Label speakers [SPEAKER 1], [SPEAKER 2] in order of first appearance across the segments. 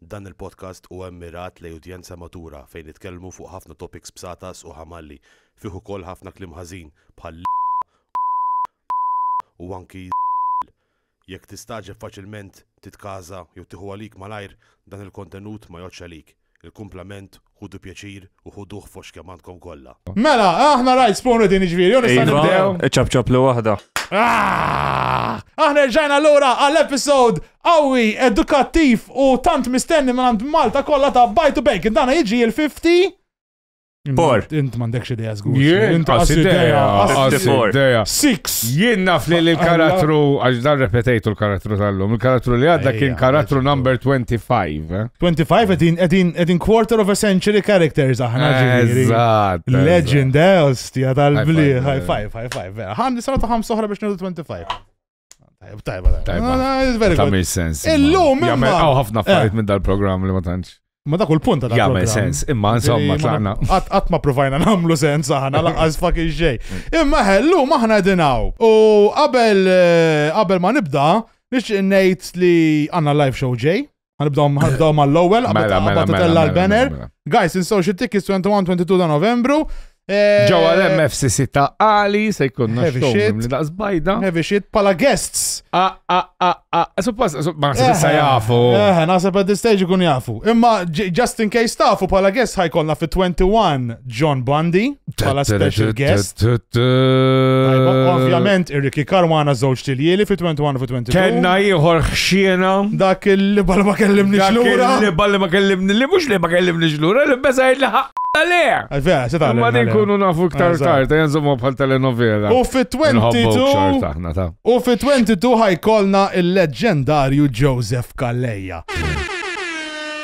[SPEAKER 1] Dan il-podcast huwa mmirat lejn udjenza matura fejn nitkellmu fuq ħafna topics b'satas u ħamalli. Fih ukoll ħafna kliem ħażin bħal l-, u anki l-. Jekk tistagħġeb faċilment, titkaża jew tieħu għalik malajr, dan il-kontenut ma jgħoddx għalik. Il-kumplament Ħudu pjaċir u ħuduh fost kemm għandkom kollha. Mela, aħna
[SPEAKER 2] right spoon reading iġviri, u nista' Iva, nibdew. ċabċab li waħda.
[SPEAKER 3] Ah! Aħna
[SPEAKER 2] rġajna l-ura għall-episod qawwi, edukattiv u tant mistenni minn għand Malta kollha ta' Bajtu Bacon. Dana jiġi il-50 Por. Int m'għandekx idea żgur. Jien, Int għas qas idea,
[SPEAKER 4] idea, għas għas idea. idea. idea. Six.
[SPEAKER 2] Jien naf li
[SPEAKER 4] l-karattru, għax dan repetejtu l-karattru tal-lum, il-karattru li għadda kien Ejja, karattru għax- number 25. 25 edin,
[SPEAKER 2] edin, edin quarter of a century characters aħna ġiri. Legend,
[SPEAKER 4] eh,
[SPEAKER 2] ostja tal-bli, high five, high five, vera. Għan nisana ta' ħam soħra biex nħudu 25. Tajba, tajba. Tajba. Ah,
[SPEAKER 4] ta' mis sens. Illum, imma. Għaw
[SPEAKER 2] ħafna eh. affarijiet
[SPEAKER 4] minn dal-program li ma tantx. Ma dak il-punt ta' dak.
[SPEAKER 2] Jagħmel sens, imma
[SPEAKER 4] insomma tlaqna. Qatt ma provajna
[SPEAKER 2] nagħmlu sens aħna laqqas fucking xejn. Imma ħellu maħna dinaw. U qabel eh, qabel ma nibda, Nixtieq ngħid li għandna live show ġej. Għanibdaw ħanibdaw mal-ewwel qabel Mela, mela, qabel mela, titella mela, l-banner. mela, mela. Guys, insaw xi tickets 21-22 ta' Novembru. Eh, Ġewwa
[SPEAKER 4] l-MFCC ta' Ali se jkunna Heavy xogħol shit. li daqs bajda. Heavy shit pala
[SPEAKER 2] guests. Ah, ah, ah, ah. Suppost,
[SPEAKER 4] supp- ma se issa jafu. Eh, naħseb at this
[SPEAKER 2] stage ikun jafu. Imma j- just in case tafu pala guests ħajkonna fit-21 John Bundy bħala special guest. Ovvjament ir-Ricky Karwana żewġ tiljieli fi 21 fi 22. Kenna ieħor
[SPEAKER 4] ħxiena. Dak li bal
[SPEAKER 2] ma kellimni xlura. Li bal ma kellimni
[SPEAKER 4] li mhux li ma kellimni xlura li besa li ħaq le. Vera, se tagħmel. Ma nkunu nafu iktar tard, jenżomma bħal telenovela. U fi
[SPEAKER 2] 22 U fi 22 ħajkolna il-leġġendarju Joseph Kalleja.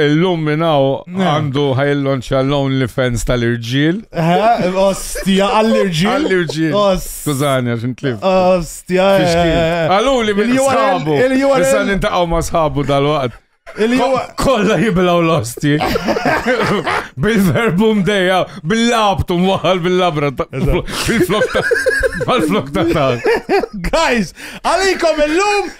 [SPEAKER 4] Illum minn hawn għandu ħajlonċa l-only fans tal-irġiel. Ostja,
[SPEAKER 2] għall-irġiel. Għall-irġiel.
[SPEAKER 4] Skużani, għax intlif. Ostja.
[SPEAKER 2] Għallu
[SPEAKER 4] li minn sħabu. Issa nintaqaw ma sħabu dal-waqt. Kolla jiblaw l-osti. Bil-verbum dejja, bil-labtu mwaħal bil-labra. Bil-flok ta' Guys,
[SPEAKER 2] għalikom il-lum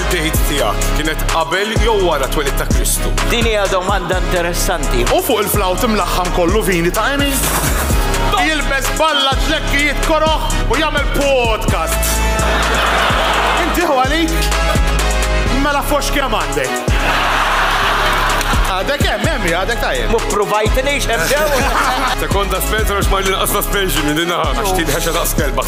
[SPEAKER 2] Tgħid
[SPEAKER 5] tiegħek kienet qabel jew wara twelid ta' Kristu? Din hija domanda
[SPEAKER 6] interessanti. U fuq il-flawt
[SPEAKER 2] imlaħħam kollu vini ta' Emi? Jilbes balla ġlekki jitkoroħ u jagħmel podcast. Inti għalik? Mela fox kemm għandek. Għadek hemm hemm għadek tajjeb. Mu provajt nix
[SPEAKER 6] hemm ġew. Sekonda
[SPEAKER 5] Spencer għax ma l-inqas suspension minn dinha għax tidħex daqs kelba.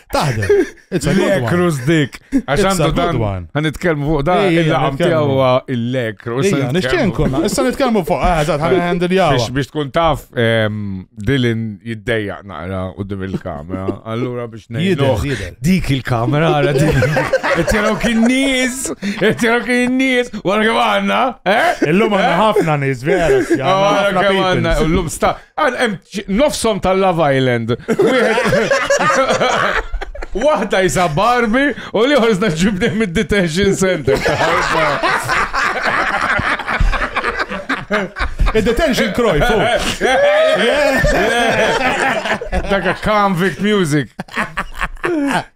[SPEAKER 2] Taħdem. It's a good one. Lekrus dik. Għax
[SPEAKER 4] għandu dan. Għan
[SPEAKER 2] nitkelmu
[SPEAKER 4] fuq
[SPEAKER 2] da.
[SPEAKER 4] Il-laqam tijaw
[SPEAKER 2] il-lekrus.
[SPEAKER 4] Ija, nixċen konna.
[SPEAKER 2] Issa nitkelmu fuq. Għazat, ah, għan għandil jaw. Biex tkun taf
[SPEAKER 4] ehm, dilin jiddeja naqra u dim il-kamera. Allura biex nejduħ. Dik il-kamera
[SPEAKER 2] għara
[SPEAKER 4] dik. Etjeraw kien nis. Etjeraw kien nis. Għara kem għanna. Eh? Illum għanna eh?
[SPEAKER 2] ħafna nis, vera. Għara kem
[SPEAKER 4] għanna. Illum
[SPEAKER 2] sta.
[SPEAKER 4] Nofsom tal-Love Island. Wahda jisa Barbie u li ħorżna ġibni mid-detention center.
[SPEAKER 2] Il-detention kroj, fu.
[SPEAKER 4] Daka convict music.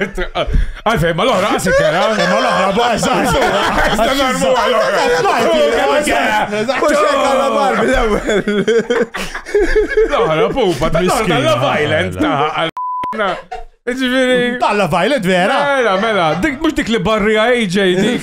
[SPEAKER 4] Għalfej, ma l-ohra għasik kera. Eh? Ma l-ohra bħazza.
[SPEAKER 2] Għazza narmu
[SPEAKER 4] għal-ohra. L-ohra pupa, ta' l-ohra violent ta' Ġviri.
[SPEAKER 2] Talla violet vera. Mela, mela, dik mux
[SPEAKER 4] dik li barri AJ dik.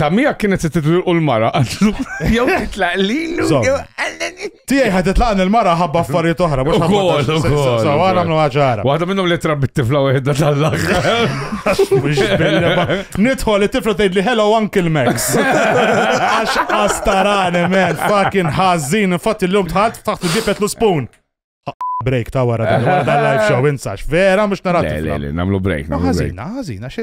[SPEAKER 4] Ta' mija kienet se titlilqu l-mara, għandu jew titlaq lilu, Zom. jew għalleni.
[SPEAKER 2] Tijaj ħadet laqan il-mara ħabba affarijiet oħra. mhux ħabba- Ukoll, ukoll, So, ukoll. għana mnu ħagħara. Waħda minnhom li trabbi t-tifla
[SPEAKER 4] wieħda tal-aħħar.
[SPEAKER 2] Nidħol it-tifla tgħid li hello Uncle Max. Għax astarane man, fucking ħażin, infatti l-lum tħadd taħt il-bibet l spoon. Break ta' wara dan wara dan live show insax. Vera mhux narat. Le, le, le, namlu break,
[SPEAKER 4] namlu break. Ħażina, ħażina,
[SPEAKER 2] xi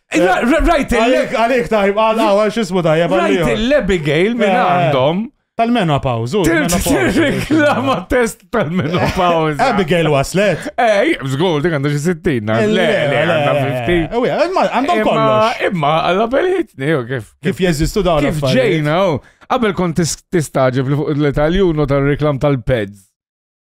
[SPEAKER 2] Rajt
[SPEAKER 4] il-lek. Għalik tajb,
[SPEAKER 2] għalaw, għal xismu tajb. Rajt il-Abigail
[SPEAKER 4] minn eh. għandhom. Tal-menopause.
[SPEAKER 2] Reklama
[SPEAKER 4] test tal-menopause. Abigail waslet.
[SPEAKER 2] Ej, zgur, dik għandha
[SPEAKER 4] xi 60. Eh, le, le, għandha 50. Eh, għandhom kollox.
[SPEAKER 2] Imma għalla belħitni,
[SPEAKER 4] kif. Kif jeżistu
[SPEAKER 2] dawn. Kif ġejna,
[SPEAKER 4] qabel kont tistaġib li fuq l-Italjun u tal-reklam tal-peds.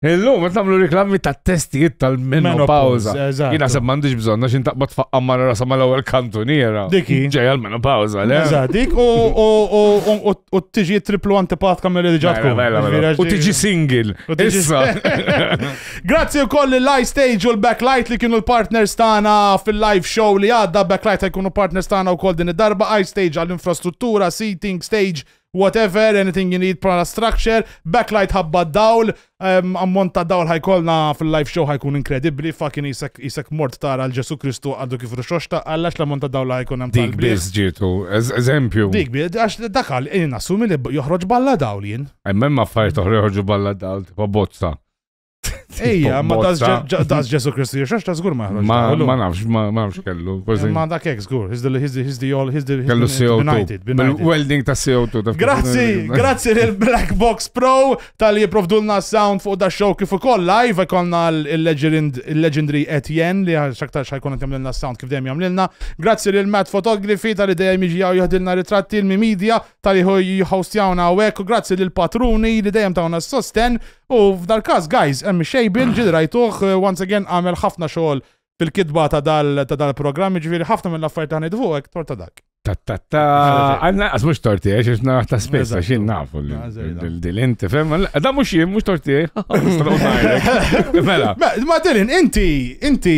[SPEAKER 4] Illum, ma tamlu reklami ta' testijiet tal-menopawza. Jina se mandiġ bżonna xin taqbad faqqa marra rasa ma l-ewel kantuniera. Diki. Ġej
[SPEAKER 2] għal-menopawza,
[SPEAKER 4] le? Eżat, dik
[SPEAKER 2] u tiġi triplu antipatka mill diġa tkun. Mela, mela, mela. U tiġi
[SPEAKER 4] singil. Issa.
[SPEAKER 2] Grazzi u koll l-Live Stage u l-Backlight li kienu l-partners tana fil-live show li għadda. Backlight għajkunu partners tana u koll din id-darba. Ice Stage għall-infrastruttura, seating, stage, whatever, anything you need bħala structure, backlight ħabba dawl, um, ammont ta' dawl ħajkolna fil-live show ħajkun inkredibli, fucking isek, isek mort tara l-Ġesu Kristu għaddu kif rixoxta, għallax l-ammont ta' dawl ħajkun hemm. Dik biz ġitu,
[SPEAKER 4] eżempju. Dik biz, għax
[SPEAKER 2] dakal, jien assumi li joħroġ balla dawl jien. Emmem affarijiet oħra
[SPEAKER 4] joħroġu balla dawl, tipo bozza. Ejja,
[SPEAKER 2] ma das Ġesu Kristu jiexax ta' zgur maħroġ. Ma nafx, ma
[SPEAKER 4] nafx kellu. Ma da kek zgur,
[SPEAKER 2] he's the all, he's the kellu
[SPEAKER 4] CO2. Welding ta' CO2. Grazzi, grazzi
[SPEAKER 2] lil Black Box Pro tal-li jiprovdulna sound fuq da show kif ukoll live konna il-legendary Etienne li xaktar xajkun għet jamlilna sound kif dejjem jamlilna. Grazzi lil Matt Photography tal-li dejjem iġi għaw jħadilna ritratti il-mi media tal-li jħostjawna għawek. Grazzi lil Patruni li dejjem tawna s-sosten U f'dal-każ, guys, hemm ix-xejbien, ġieli rajtuh, once again għamel ħafna xogħol fil-kitba ta' dal-programm, jiġifieri ħafna mill-affarijiet li ħanid fuq hekk torta dak. Ta-ta-ta,
[SPEAKER 4] għanna għaz mux torti, għax jisna ta' spessa, xin nafu l-dilin, tifem, da mux jim, mux torti, Mela. Ma dilin, inti,
[SPEAKER 2] inti,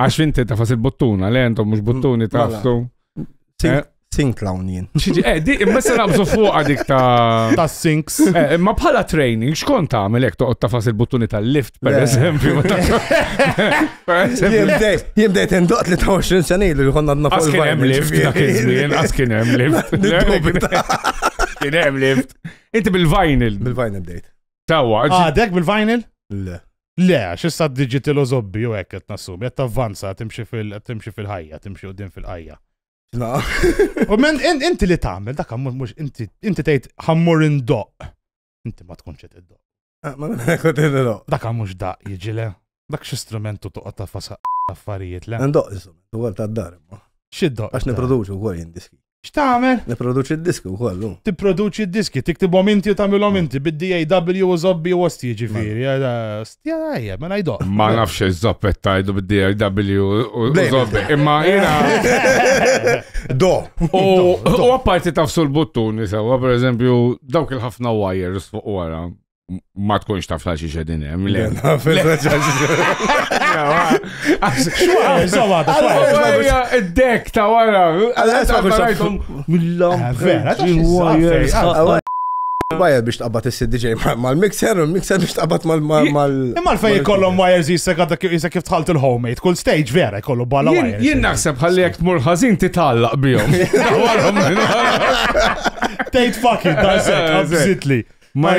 [SPEAKER 4] Għax inti ta' fas il-buttuna, le jentom mux buttuni ta' ftu. Eh?
[SPEAKER 3] Sink lawn jien. Xieġi, eh, di, imma se
[SPEAKER 4] nabżu fuq għadik ta' ta' sinks. Eh,
[SPEAKER 2] imma bħala
[SPEAKER 4] training, xkon ta' għamilek toqgħod ta' fas il-buttuni tal-lift, per eżempju.
[SPEAKER 3] Jien bdejt indoq li ta' 20 sena ilu li konna għadna fuq. Askin hemm lift, dak
[SPEAKER 4] iż-żmien, askin hemm lift. Kien hemm lift. Inti bil-vinyl. Bil-vinyl bdejt.
[SPEAKER 3] Tawa. Għadek
[SPEAKER 4] ah, bil-vinyl?
[SPEAKER 2] Le.
[SPEAKER 3] Le, għax issa
[SPEAKER 2] digital u zobbi u hekk qed nassumi, qed tavvanza, timxi fil timxi fil-ħajja, timxi qudiem fil-ħajja. U men inti li tagħmel dak mhux inti inti tgħid ħammur indoq. Inti ma tkunx qed iddoq. Ah, ma qed
[SPEAKER 3] iddoq. Dak mhux daq
[SPEAKER 2] jiġile. Dak xi strumentu toqgħod ta' fasa affarijiet le. Indoq isu, dwar
[SPEAKER 3] tad-dar imma. X'iddoq? Għax nipproduċu
[SPEAKER 2] wkoll
[SPEAKER 3] jindiski. X'tagħmel? Nipproduċi
[SPEAKER 2] d-diski
[SPEAKER 3] wkoll hu. Tipproduċi d-diski,
[SPEAKER 2] tiktibhom inti u tagħmilhom inti bid-DAW u żobbi u osti jiġifieri. Ostja ejja, mela jdoq. Ma nafx iż-żoppet
[SPEAKER 4] tajdu bid-DAW u żobbi. Imma jiena. Do.
[SPEAKER 3] U
[SPEAKER 4] apparti tafsu l-buttuni sewwa, pereżempju, dawk il-ħafna wires fuq wara. ma tkunx taf ta' xiex edin hemm. Le, Id-dek ta' wara. Mill-lam.
[SPEAKER 3] Wire biex tqabbat il-CDJ mal-mixer, u l-mixer biex tqabbat mal- mal- mal- Imma l-fej jkollhom
[SPEAKER 2] wires jisek għadda kif jisek kif tħalt il-homemade, kull stage vera jkollu bala Jien- wires. Jien naħseb ħalli jekk
[SPEAKER 4] tmur ħażin titgħallaq bihom. Warhom minn wara.
[SPEAKER 2] Tejt fucking, da' sekk, Eh, abżitli.
[SPEAKER 4] Ma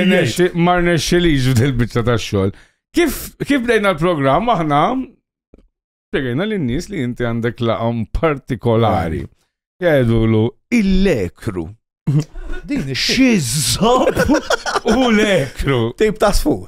[SPEAKER 4] rnexxilix f'dil-biċċa tax-xogħol. Kif kif bdejna l-programm aħna spiegħajna lin-nies li inti għandek laqam partikolari. Jgħidulu il-lekru. Din ix-xizzob u lekru. Tip ta' sfur.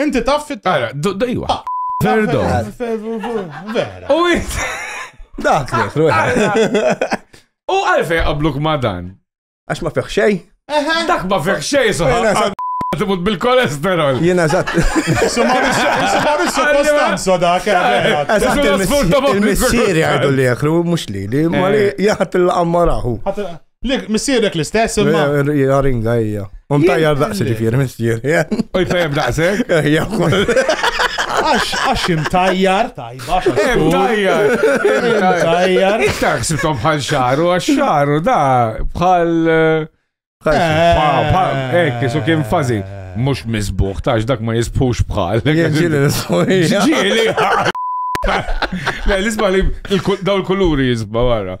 [SPEAKER 3] Inti taf
[SPEAKER 2] fit Ara, do- do- iwa. Ah,
[SPEAKER 4] Ferdo.
[SPEAKER 2] Vera. U int.
[SPEAKER 4] Dak li
[SPEAKER 3] jifru.
[SPEAKER 4] U
[SPEAKER 3] għalfej
[SPEAKER 4] qabluk ma dan. Għax ma fiħ xej. Dak ma fih
[SPEAKER 3] xej Jena
[SPEAKER 4] soħab. sa- Timut bil-kolesterol. Jena zat.
[SPEAKER 3] Su Maurizio
[SPEAKER 2] Costanzo dak, eh, vera. Eżatt, Isu il-miss-
[SPEAKER 3] nasfurta ma' il-missieri il-missieri. għajdu li jekru, mux li li, ma li Eh. jaħat il-qammarahu. Ħadd- Missierek
[SPEAKER 2] l-istess, imma. Jaringa hija.
[SPEAKER 3] Un tajjar daqsi ġifieri missier. U jfehem
[SPEAKER 4] daqsek? Hija Għax,
[SPEAKER 2] għax imtajjar, tajba. Imtajjar,
[SPEAKER 4] imtajjar. Iktar ksibtom bħal xaru, għax xaru da bħal. Eh, eh. Ekk, su kien fazi. Mux mizbuħ, tax dak ma jizbux bħal. Ġili l-isbaħ.
[SPEAKER 3] Ġili.
[SPEAKER 4] L-isbaħ li daw l kuluri jizbaħ għara.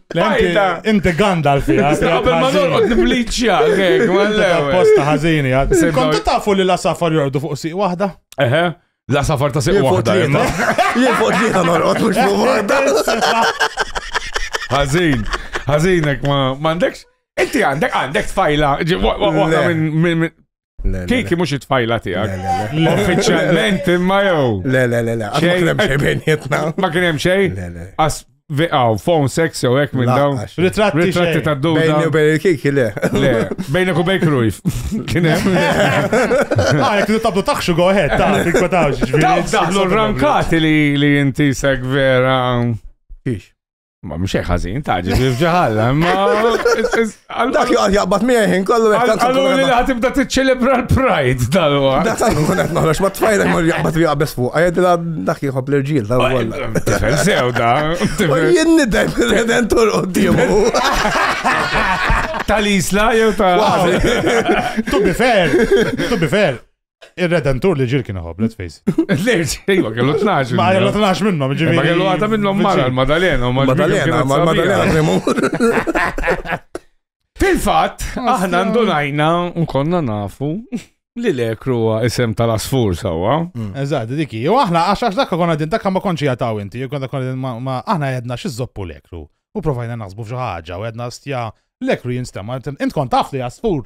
[SPEAKER 4] Bajda!
[SPEAKER 2] Inti Gandalf fiha. Qabel ma norqod
[SPEAKER 4] nibliċċja, għek, ma l-lew.
[SPEAKER 2] Posta ħażini għad. Kontu tafu li la safar jordu fuq siq waħda? Eħe, la
[SPEAKER 4] safar ta' siq waħda. Jien fuq
[SPEAKER 3] li ta' norqod mux fuq waħda. Ħażin,
[SPEAKER 4] ħażinek ma għandekx. Inti għandek għandek tfajla, waħda minn Kiki mux it-tfajla tijak. Uffiċjalment imma jow. Le, le, le, le. Xejn
[SPEAKER 3] hemm xejn bejnietna. Ma kien hemm xejn?
[SPEAKER 4] Le, le. As Aw, phone sex jew hekk minn dawn. Ritratti Ritratti ta' duda. Bejni u bejn il-kiki, le.
[SPEAKER 3] Le, bejnek
[SPEAKER 4] u bejn krujf. Kien hemm.
[SPEAKER 2] Ah, jek li tabdu taħxu go ahead, ta' tinkwetax. Daħlu
[SPEAKER 4] rankati li inti seg vera. Kix.
[SPEAKER 3] Ma mhux hekk
[SPEAKER 4] ħażin, taġi f'ġi ħalla, imma
[SPEAKER 3] Dak joqgħod jaqbad miegħi kollu hekk tant għallu li ħatibda
[SPEAKER 4] tiċċelebra l-Pride dal-wa. Dak tant nkun qed noħroġ
[SPEAKER 3] ma tfajlek ma jaqbad li jaqbeż fuq, għedilha dak jieħob l-irġiel ta' wkoll. Tifel sew da.
[SPEAKER 4] Jien nidem
[SPEAKER 3] il-redentur quddiemu.
[SPEAKER 4] Tal-isla jew ta'
[SPEAKER 2] To be fair, to be fair. Ir-Redentur li ġir kien iħobb, let's face. Lejx, ejwa,
[SPEAKER 4] kellu 12. Ma kellu 12 minnhom,
[SPEAKER 2] ġifieri. Ma kellu għata minnhom mara
[SPEAKER 4] l-Madalena, u Madalena, ma l-Madalena
[SPEAKER 3] premur.
[SPEAKER 4] Fil-fatt, aħna ndunajna nkonna nafu li l-ekru huwa isem tal-asfur sawa. Mm. Eżatt, diki.
[SPEAKER 2] U aħna għax għax dakka konna din dakka ma konċi jataw inti, konna konna ma aħna għedna xizzoppu l-ekru. U provajna naħsbu f'xi ħaġa u għedna stja l-ekru jinstema. Int kont taf li asfur.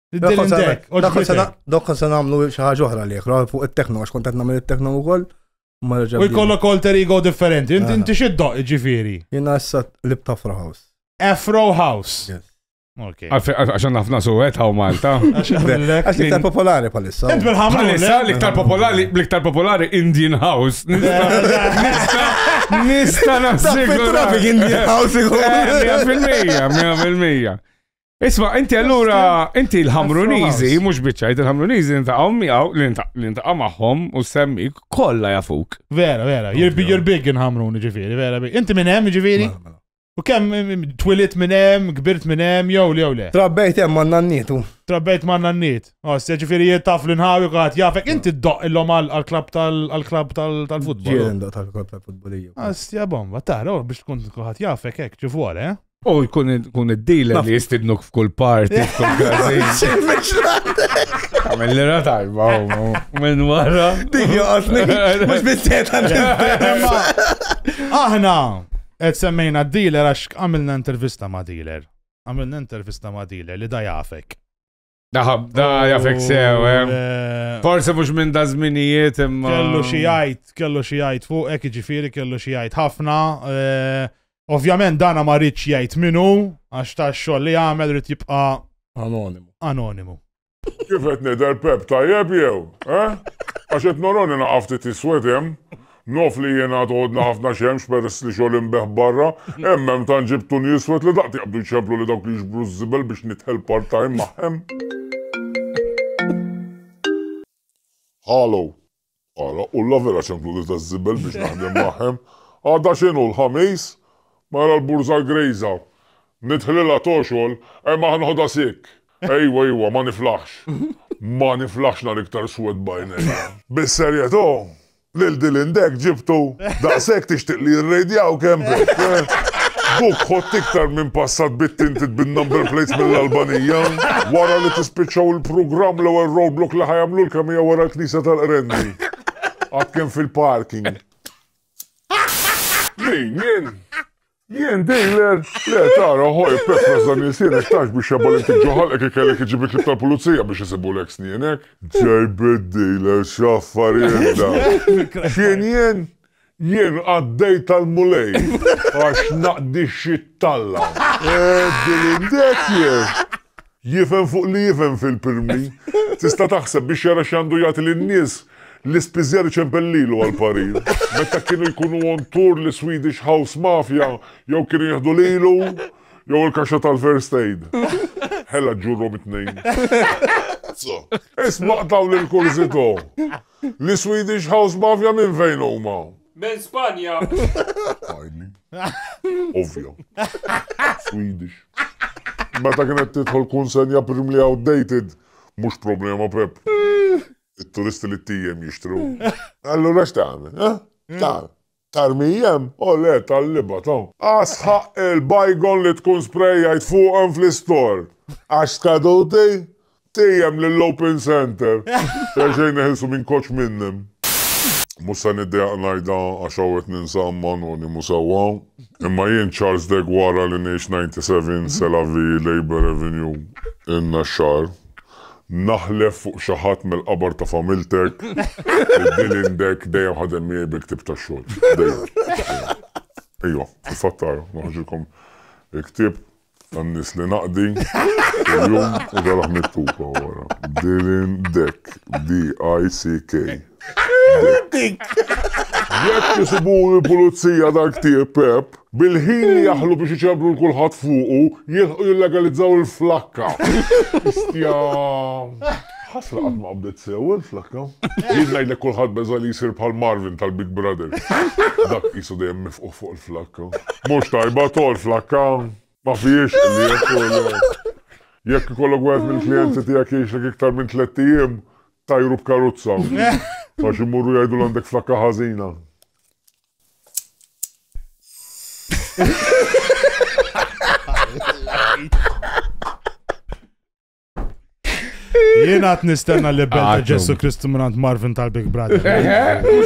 [SPEAKER 3] Dokon se namlu xaħġa oħra li jekra fuq il-tekno, għax kontet namlu il-tekno u koll. U jkollok alter
[SPEAKER 2] ego differenti. Inti xiddoq ġifiri. Jina issa lib
[SPEAKER 3] tafra house. Afro house.
[SPEAKER 4] Għaxan nafna suwet għaw Malta. Għax
[SPEAKER 3] iktar popolari palissa. Int bil-ħamra. Palissa
[SPEAKER 2] l-iktar popolari,
[SPEAKER 4] l-iktar popolari Indian House. Nista, nista nafsik. Traffic Indian House.
[SPEAKER 3] Mija fil-mija, mija fil-mija.
[SPEAKER 4] Isma, inti allura, inti l-ħamrunizi, mux bieċajt, il-ħamrunizi nintaqaw miegħu, nintaqaw magħhom u semmi kollha jafuk. Vera, vera, you're big,
[SPEAKER 2] you're big inħamruni ġifieri, vera, inti minn hemm ġifieri? U kemm mm, mm, twilit minn hemm, kbirt minn hemm, jew li jew le. Trabbejt hemm man nannitu.
[SPEAKER 3] Trabbejt man nanniet.
[SPEAKER 2] Oss, oh, ġifieri jittaf l nħawi għad jafek inti ddoq illum għall-klab tal-klab tal-futbol. Ġielen ddoq tal-klab
[SPEAKER 3] tal-futbol. Astja bomba,
[SPEAKER 2] tara, oh, biex tkun kulħadd jafek hekk ġifuor, eh? U jkun
[SPEAKER 4] kun id-dealer li jistidnuk f'kull parti, f'kull Għamil li ratajba, minn wara. Tigi għasni,
[SPEAKER 3] mux bissiet
[SPEAKER 2] Aħna, għed semmejna d-dealer għax għamilna intervista ma' dealer. Għamilna intervista ma' dealer li da jafek. Daħab, da
[SPEAKER 4] jafek sew, eh. eh. Forse mux minn da zminijiet imma. Kellu xijajt, kellu
[SPEAKER 2] xijajt fuq, ek ġifiri kellu xijajt ħafna. Eh, ovvjament dana ma rridx jgħid minu, għax ta' xogħol li għamel rrid jibqa' anonimu. Anonimu.
[SPEAKER 7] Kif qed nidher Pep tajjeb jew, eh? Għax qed noroni naqafti tiswedem Nogħof li jiena għad għodna ħafna xemx peress li xogħol inbeħ barra, hemm hemm tant ġibt tuni iswed li daqt jaqbdu jċemplu li dawk li jiġbru ż-żibel biex nidħel part time magħhem. Hallow. Ara, u la vera ċemplu li taż-żibel biex naħdem magħhem. Għada x'inhu, l-Ħamis? Mela l-burża grejża. Nidħlilha toxgħol, hemm aħ nħodha sick. Ejwa, ejwa, ma niflaħx. Ma niflaħx nhar iktar swed b'għajnejja. Bis-serjetà, Lil Dylan Dek ġibtu? Daqshekk tixtieq li jirrejdjawk hemm b'hekk, eh? Buk ħodt iktar minn passat bit-tinted bin-number plates mill-Albanija. Wara li tispiċċaw il-prugramm l-ewwel roadblock li ħa jagħmlulkom hija wara l-knisja tal-Qrendi. Għad kemm fil-parking. Min? Jien? Jien dealer, le tara ħoj pepras dan il-sienek tax biex jabal inti ġoħal ek kellek iġibit li tal-pulizija biex jisibu l-ek snienek. Ġejbit dealer xaffar jenda. Xien jien? Jien għaddej tal-mulej għax naqdi xit talla. Dilindek jien. Jifhem fuq li jifhem fil-pirmi. Tista' taħseb biex jara x'għandu jagħti lin-nies, l-ispiżjar iċempel lilu għall-parir. Meta kienu jkunu on tour l-Swedish House Mafia jew kienu jieħdu lilu jew il-kaxxa tal-First Aid. Hella ġġurrhom it-tnejn. Isma' dawn il-kurzitò. Li Swedish House Mafia minn fejn huma? Minn Spanja.
[SPEAKER 5] Finally.
[SPEAKER 7] Ovvja. Swedish. Meta kienet tidħol kunsenja prim li outdated, mhux problema Pep. It-turisti li t-tijem jixtru. Allura x'tagħmel? X'tagħmel? Tarmijem, O le, tal-liba, to. A sħaq il-bajgon li tkun sprejjajt fuqhom fl-istor. Għax skaduti? Tejjem lill-open centre. Xejn neħilsu minn koċ minnhom. Mhux se niddejjaq ngħidha għax hawn qed ninsa Amman u nimu sewwa. Imma jien Charles Degg wara li ngħix 97 Sela Vii, Labour Avenue, in-Naxxar, Naħlef fuq xi ħadd mill-qabar ta' familtek li Dylan Dek dejjem ħadem miegħi bil-ktieb tax-xogħol. Dejjem. Ejwa, fil-fatt ara, noħorġilkom il-ktieb tan-nies li naqdi kuljum u taraħ miktub hawn wara. Dylan Dek, D-I-C-K. Dek. Jekk isibuh il-pulizija dal-ktieb, Pepp, Bil-ħin li jaħlu biex iċerblu l-kulħadd fuqu, jilħqu jillegalizzaw il-flakka. Istja. Ħasra qatt ma qabdet sew il-flakka. Jien ngħidlek kulħadd beża' li jsir bħal Marvin tal-Big Brother. Dak qisu dejjem mifquh fuq il-flakka. Mhux tajba tol flakka. Ma fihiex li jekk Jekk ikollok wieħed mill-klijenti tiegħek jgħixlek iktar minn tlett ijiem, tajru b'karuzza. Għax imorru jgħidu l għandek flakka ħażina.
[SPEAKER 2] Jien għat nistenna li bella Għatum. Ġesu Kristu minnant Marvin tal-Big Brother.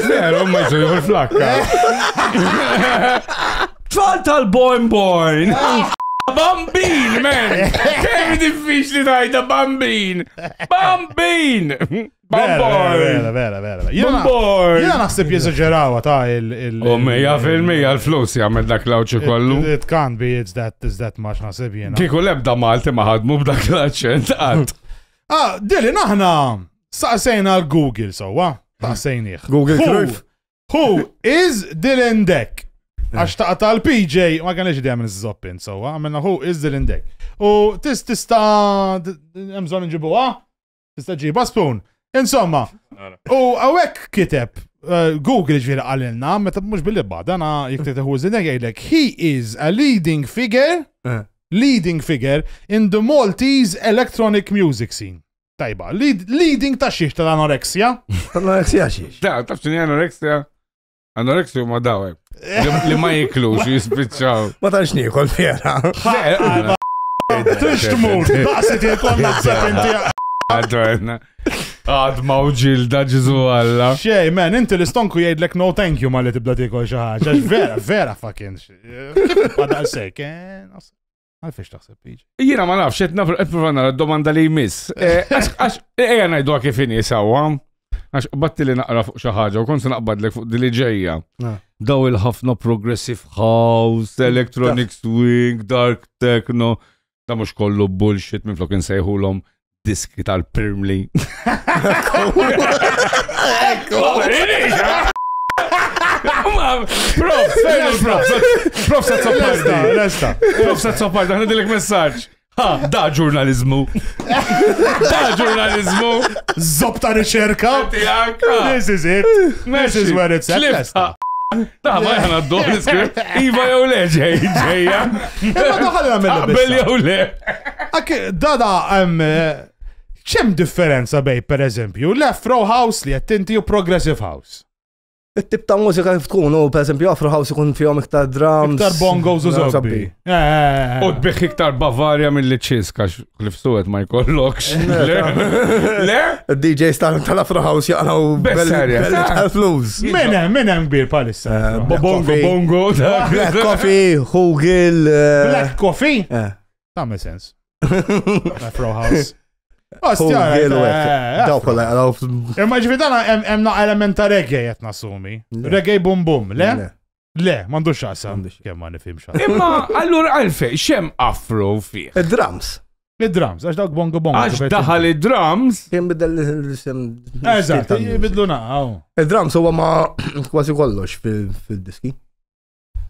[SPEAKER 2] Zero,
[SPEAKER 4] ma jżu jħor flakka. Tfal tal-boin boin. Bambin, man! Kemm diffiċli tajta bambin! Bambin! Vera,
[SPEAKER 2] vera, vera. Jena naħseb jizagġerawa ta' il- il- U mija
[SPEAKER 4] fil-mija l-flus jgħamil dak l-awċi kollu. It can't be, it's
[SPEAKER 2] that, it's that much naħseb jena. Kiku lebda Malti ma
[SPEAKER 4] ħadmu b'dak l-aċċent għad. Ah, dili
[SPEAKER 2] naħna saqsejna l-Google sowa, saqsejnieh. Google Who- Cruyff.
[SPEAKER 3] Who
[SPEAKER 2] is Dylan Deck? Għax ta' tal-PJ ma kanix id għamil z-zoppin, so għamilna who is Dylan Deck. U tis tista' emżon nġibuha? tista' ġiba spoon. Insomma, u għawek kiteb eh, Google ġviri għalilna, meta mux billi bada, na jiktet hu zinek għajdek, he is a leading figure, eh. leading figure in the Maltese electronic music scene. Tajba, leading ta' xiex tal-anoreksja? Tal-anoreksja
[SPEAKER 3] xiex? Da, ta' xini anoreksja?
[SPEAKER 4] Anoreksi huma dawek. Li ma jiklux jispiċċaw. Ma tantx niekol
[SPEAKER 3] vera.
[SPEAKER 2] Tux tmur, daqsi tiekol naħseb inti. Għadwena.
[SPEAKER 4] Għad mawġil da ġizu għalla. Xej, man, inti
[SPEAKER 2] l-istonku jgħidlek no thank you ma li tibda tiekol xi ħaġa. Vera, vera fucking. Kif bada sekk, eh? Għalfiex taħseb liġi? Jiena ma nafx, qed nafx
[SPEAKER 4] qed provan nara domanda li jmiss. Eh, għax ejja ngħidu kif inhi sewwa. Għax batti li naqra fuq xi ħaġa u kont se naqbadlek fuq dili ġejja. Ah. Daw il-ħafna progressive house, electronic swing, dark techno, da mhux kollu bullshit minn flok insejħulhom diski tal-Pirmli. Ekku! Prof, fejn il-prof? Prof, sa' topparda, lesta. Prof, sa' topparda, għana dilek messaċ. Ha, da ġurnalizmu. Da ġurnalizmu.
[SPEAKER 2] Zob ta' riċerka. This is it. This is where it's at.
[SPEAKER 4] Ta' ma jħana d-dor l-iskript. Iva jew le ġej, ġejja. Imma
[SPEAKER 2] daħal għamil. Bel jew le.
[SPEAKER 4] Ak,
[SPEAKER 2] dada, ċem eh, differenza bej, per eżempju, left row house li jattinti u progressive house? it-tip ta'
[SPEAKER 3] mużika kif tkun, u per esempio Afro House ikun fihom iktar drums. Iktar bongos u
[SPEAKER 2] zobbi. U
[SPEAKER 4] tbiħ iktar Bavaria mill-li ċiska. Cliff Stewart ma jkollokx. Le? DJ
[SPEAKER 3] star tal-Afro House jaqraw Bessarja. belli tal-flus. Menem, menem
[SPEAKER 2] kbir palissa. Eh, Black Bongo, Coffee. bongo.
[SPEAKER 4] ta- Black
[SPEAKER 3] Coffee, Hugil. eh, Black Coffee?
[SPEAKER 2] eh. Tagħmel sens. Afro House. Hugil u hekk. Ostja,
[SPEAKER 3] Daw kollha jaqraw. f- Imma ġvidana
[SPEAKER 2] hemm naqqa element ta' reggae qed nassumi. Le. Reggae bum bum, le? Le. Le, m'għandux x'aqsam. Kemm ma nifhimx. Imma allura
[SPEAKER 4] għalfej xem afro fih. Id-drums.
[SPEAKER 3] Id-drums, għax dawk
[SPEAKER 2] bongo bongo. Għax daħal id-drums.
[SPEAKER 4] Kien bidel l-isem.
[SPEAKER 3] Eżatt,
[SPEAKER 2] bidlu naqaw. Id-drums huwa ma
[SPEAKER 3] kważi kollox fil-diski.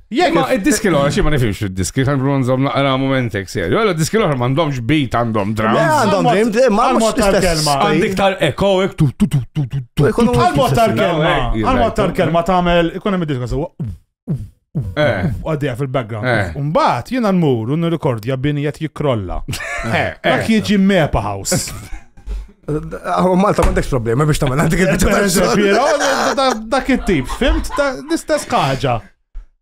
[SPEAKER 4] Jek, id-diski l-għora xie ma nifimx id-diski, għan bronzom naqra momentek serju. Għalla diski l-għora mandomx beat għandhom drums. Għandhom drums, ma
[SPEAKER 3] mux t-kelma.
[SPEAKER 2] Għandik tal-eko,
[SPEAKER 4] ek tu tu tu tu tu.
[SPEAKER 2] Għal-mod tal-kelma, għal-mod tal-kelma tagħmel ikun hemm id-diska sewa. Eh. Għaddija fil-background. Eh. Umbat, jina n-mur, un rekordja bini jett jikrolla. Eh, Dak jieġi mepa house.
[SPEAKER 3] Għu Malta ma dekx problema biex tamel għandik il-bicċa.
[SPEAKER 2] Dak il-tip, fimt, l-istess ħaġa.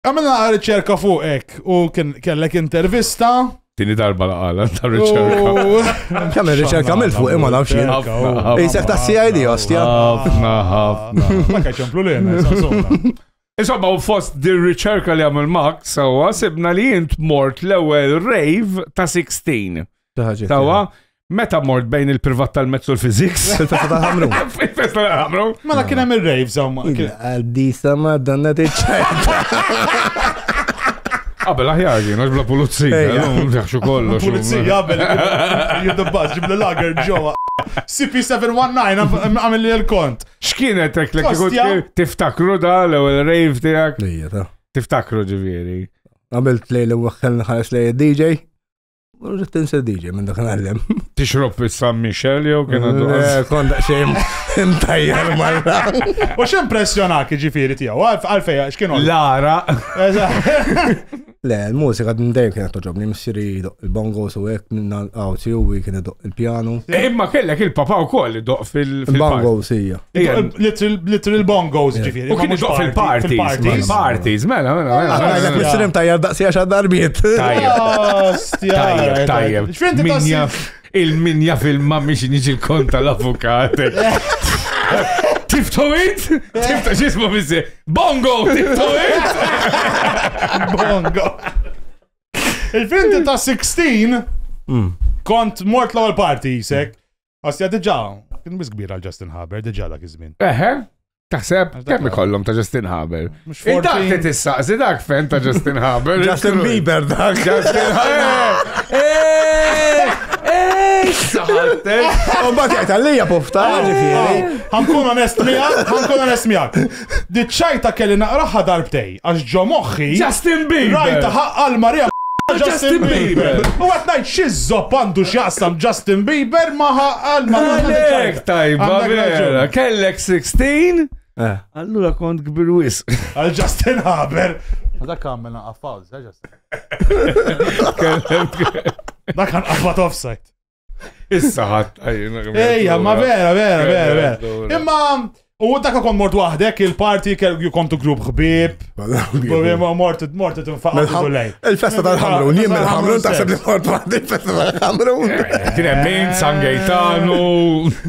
[SPEAKER 2] Għamilna riċerka fuqek u kellek intervista. Tini darba la
[SPEAKER 4] għala ta' riċerka. Kemm riċerka
[SPEAKER 3] għamil fuq imma nafx jien. Isek ta' CID ostja. Ħafna, ħafna.
[SPEAKER 4] Ma kaċ ċemplu
[SPEAKER 2] li Insomma, u
[SPEAKER 4] fost dir riċerka li għamil Max, sawa, sibna li jint mort l-ewel rave ta' 16. Tawa, Meta mort bejn il-privat tal-mezz u l-fiziks? Il-festa tal-ħamru.
[SPEAKER 3] Il-festa tal-ħamru.
[SPEAKER 4] Mela kien hemm ir-rave
[SPEAKER 2] samma. Għaddi samma
[SPEAKER 3] danna tiċċajta.
[SPEAKER 4] Qabel aħjar ġin, għax bla pulizija, jaxu kollox. Pulizija, qabel,
[SPEAKER 2] jiddabbas, ġib l-lager ġowa. CP719 għamil li l-kont. X'kienet ek li
[SPEAKER 4] tiftakru da l-ewwel rave tiegħek? Tiftakru ġifieri. Għamilt lejl u
[SPEAKER 3] waħħel nħares lejl DJ. Rrit insir DJ minn dak għallem. Tixrob fis San
[SPEAKER 4] Michel jew kien għandu. Eh, Konda xejn
[SPEAKER 3] mtajjar marra. U xem
[SPEAKER 2] pressjonak ġifiri tijaw, għalfej, xkienu. Lara.
[SPEAKER 3] Le, l-mużika din dejjem kienet toġobni, missiri il-bongos u hekk minn għawzi u kien idoq il-pjanu. Eh, imma kellek
[SPEAKER 4] il-papa wkoll idoq fil-bongos hija.
[SPEAKER 3] Little
[SPEAKER 2] bongos ġifiri. U kien iġoq fil-parties.
[SPEAKER 4] Fil-parties, mela, mela, mela. Għalek mela, mela. mistrim
[SPEAKER 3] tajjeb daqsija xa darbiet. Tajjeb,
[SPEAKER 4] tajjeb. Min jaf, il-min jaf il-ma miex niġi l-konta l-avukat. Tiftu int? Tiftu xismu bizzi. Bongo, tiftu int?
[SPEAKER 2] Bongo. Il-finti ta' 16 mm. kont mort l-ewwel party jisek. Osja diġà kien biss kbir għal Justin Haber diġà dak iż-żmien. Eħe, taħseb
[SPEAKER 4] kemm ikollhom ta' Justin Haber. Dak li tissaqsi dak fen ta' Justin Haber. Justin Bieber dak.
[SPEAKER 3] Justin Haber.
[SPEAKER 4] U bat jgħid għalija
[SPEAKER 3] pufta. Għankun onest
[SPEAKER 2] miegħek, għankun onest miegħek. Diċċajta kelli naqraħħa darbtej. Għax ġo moħħi. Justin Bieber! Rajta
[SPEAKER 4] ħaqqa l-marea
[SPEAKER 2] ma' Justin Bieber! U qed ngħid xi żopp għandu x'jaqsam Justin Bieber ma' ħaqqa l-marea ma' Justin Bieber! Għalhekk tajba
[SPEAKER 4] vera! Kellek 16? Eh. Allura kont kbir wis. Għal Justin
[SPEAKER 2] Haber. Dak għamil naqaf pawz, Justin. Dak għan għafat offside. Issa
[SPEAKER 4] ħadd Ejja, ma
[SPEAKER 2] vera, vera, vera, vera. Imma u dak kon mort waħdek il-party you come to group ħbib. Mort mort tinfaqgħu lej. Il-festa tal-ħamrun,
[SPEAKER 3] jien mill-ħamrun taħseb li mort waħdek il-festa tal-ħamrun. Kien hemm min
[SPEAKER 4] San Gejtanu,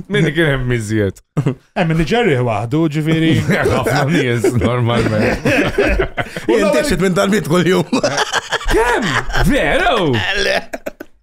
[SPEAKER 4] min kien hemm miżjed. Hemm min ġerri
[SPEAKER 2] waħdu, ġifieri. Ħafna nies
[SPEAKER 4] normalment. Jien
[SPEAKER 3] tixit minn dal-bit kull-jum. Kemm?
[SPEAKER 4] Veru?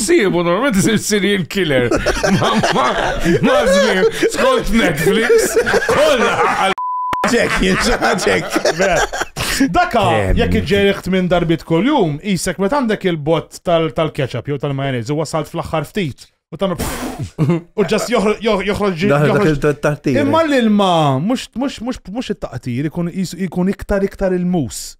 [SPEAKER 4] Sibu, normalment isir serial killer. Ma zmin, skont Netflix, kolla għal. Ġek,
[SPEAKER 3] ġek.
[SPEAKER 2] Daka, jekk iġġeriħt minn darbit kol jum, jisek met għandek il-bot tal-ketchup jew tal-majonez u wasalt fl-axħar ftit. U tam u ġas joħroġ ġil-taqtir. Imma l-ilma, mux it-taqtir, ikun iktar iktar il-mus.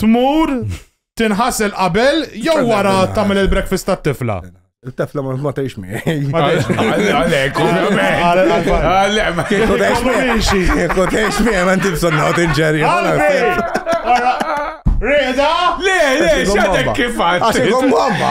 [SPEAKER 2] tmur tinħasel qabel jew wara tagħmel il-breakfast tat-tifla. Il-tefla ma ma
[SPEAKER 3] tgħix miegħi. Għalek,
[SPEAKER 4] ovvjament.
[SPEAKER 3] Għalek, ma kieku tgħix miegħi. Kieku tgħix miegħi ma ntib sonna tinġeri.
[SPEAKER 2] Reda? Le, le,
[SPEAKER 4] xatek kif għad. Għax ikom mamma.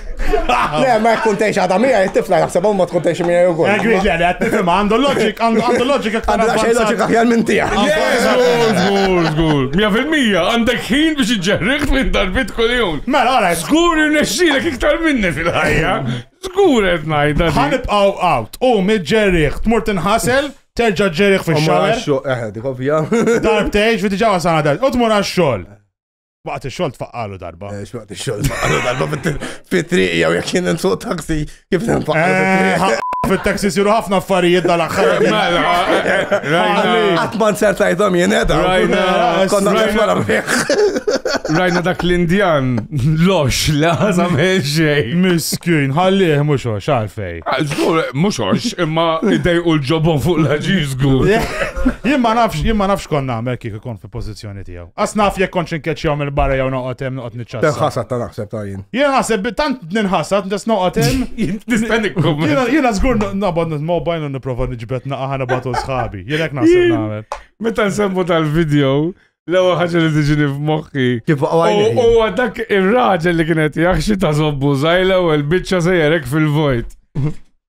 [SPEAKER 3] Le, ma jkun tgħix għadha mija, tifla jaħseb ma tkun tgħix mija ukoll. Egri, le, le, tifhimha,
[SPEAKER 2] għandu loġik, għandu loġik aktar. Għandu xejn loġik aħjar
[SPEAKER 3] minn tiegħek. Żgur, żgur,
[SPEAKER 4] żgur. Mija fil-mija, għandek ħin biex iġġerriħ minn darbit kuljum. Mela, għala. Żgur
[SPEAKER 2] irnexxilek
[SPEAKER 4] iktar minni fil-ħajja. Żgur qed ngħidha. Ħanibqgħu out,
[SPEAKER 2] u miġġerriħ, tmur tinħasel, terġa' ġġerriħ fix-xogħol.
[SPEAKER 3] Darbtejx, fi diġà
[SPEAKER 2] wasana dal. U tmur għax-xogħol. Waqt ix-xogħol tfaqqalu darba. Eh, x'waqt ix-xogħol tfaqqalu
[SPEAKER 3] darba fit-triq jew jekk kien hemm suq taxi kif tinfaqqalu eh, fit-triq. Fit-taxi siru ħafna
[SPEAKER 2] affarijiet dal-aħħar. Eh, mela, Qatt
[SPEAKER 3] ma nsertajthom jien edha. Konna nifwara Rajna dak
[SPEAKER 4] l-Indjan lox li għazam xej. Miskin,
[SPEAKER 2] ħallih mhux għax għalfej. Ah, żgur mhux
[SPEAKER 4] għax, imma idej u l-ġobon fuq l-ħaġiż żgur. Jien ma
[SPEAKER 2] nafx, jien ma nafx konna nagħmel kif ikun fi pożizzjoni tiegħu. Għas naf jek konċ nkeċċjaw mill-barra jew noqgħod hemm noqgħod niċċassa. Tenħasad ta' naħseb ta' jien.
[SPEAKER 3] Jien naħseb tant
[SPEAKER 2] ninħasad nes noqgħod hemm. Nistenni kum. Jiena żgur nabad mobile u nipprova niġbed naqa' ħana batu sħabi. Jien hekk naħseb nagħmel. Meta nsemmu
[SPEAKER 4] tal-video, l-ewwel ħaġa li tiġini f'moħħi. Kif U
[SPEAKER 3] dak
[SPEAKER 4] ir-raġel li kienet jaħxi ta' zobbu żgħir l-ewwel biċċa sejjerek fil-vojt.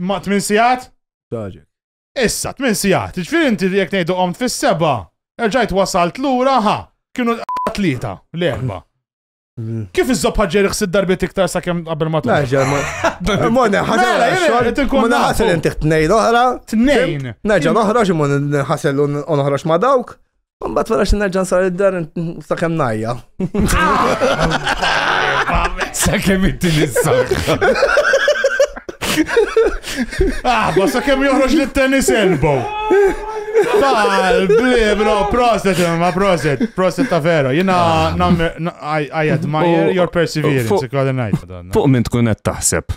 [SPEAKER 3] Ma' 8
[SPEAKER 2] sigħat? Taġek.
[SPEAKER 3] Issa, 8
[SPEAKER 2] sigħat. Ġifieri inti jekk ngħidu qomt fis-seba, erġajt wasalt lura ħa, kienu tlieta, l-erba. Mm. Kif iżobħa ġeri xsid darbiet iktar sa' kem qabel ma tkun? Naġa, ma.
[SPEAKER 3] Mona, ħasel. Mela, jena, tinkun. Mona, ħasel inti t-nejn oħra. T-nejn. Naġa,
[SPEAKER 2] noħroġ,
[SPEAKER 3] mona, ħasel unoħroġ ma dawk. Mbagħad wara xi nerġa' nsar id-dar sakemm najja.
[SPEAKER 4] Sakemm inti nissak.
[SPEAKER 2] Ah, ma sakemm joħroġ li tennis elbow. Tal, bli, bro, proset, ma proset, proset ta' vera. Jina, ah. I admire your perseverance, ikkoordinajt. Fuq
[SPEAKER 8] minn tkun qed taħseb.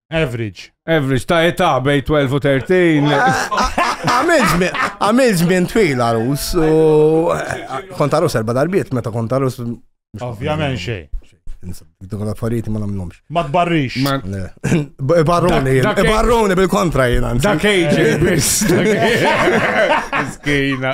[SPEAKER 2] Average. Average ta'
[SPEAKER 4] età bej 12 u 13.
[SPEAKER 3] Għamil żmien twil għarus u eh, kont għarus erba' darbiet meta kont għarus. Ovvjament
[SPEAKER 2] xejn. Dak
[SPEAKER 3] l-affarijiet ma nagħmlhomx. Ma tbarrix.
[SPEAKER 2] Barruni,
[SPEAKER 3] barruni bil-kontra jiena. Dak age
[SPEAKER 4] biss. Skina.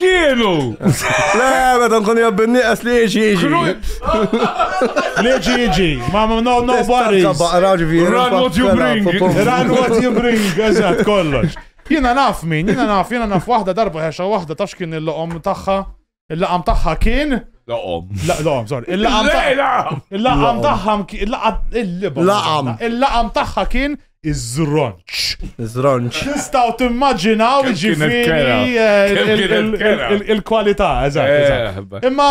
[SPEAKER 4] Kienu! Le, meta
[SPEAKER 3] nkun jabbi nieqes li jiġi jiġi. Li jiġi jiġi.
[SPEAKER 2] Ma no no worries. Run what
[SPEAKER 4] you bring. Run what you bring. Eżatt, kollox. Jiena naf min,
[SPEAKER 2] jiena naf, jiena naf waħda darba ħexa waħda taf x'kien il-loqom tagħha. Il-laqam tagħha kien Laqom. Laqom, sorry. Il-laqam tagħha. Il-laqam tagħha il-laqam. Il-laqam tagħha kien iż-żronċ. Iż-żronċ. Tistgħu timmaġinaw ġifieri eh, il-kwalità, eżatt. Eh, Imma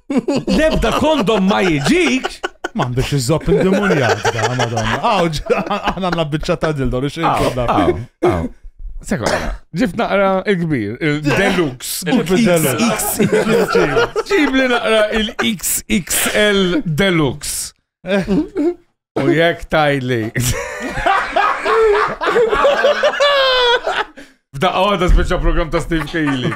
[SPEAKER 3] Lebda
[SPEAKER 8] kondom ma jiġik. M'għandux iżopp
[SPEAKER 2] il-demonjak da, madonna. Aw, aħna għandna biċċa ta' dildo li xejn kollha.
[SPEAKER 4] Sekonda, ġift naqra il-kbir, il-deluxe. Ġib li naqra il-XXL deluxe. U jek tajli. F'daqqa għada speċa program ta' Steve Kaylee.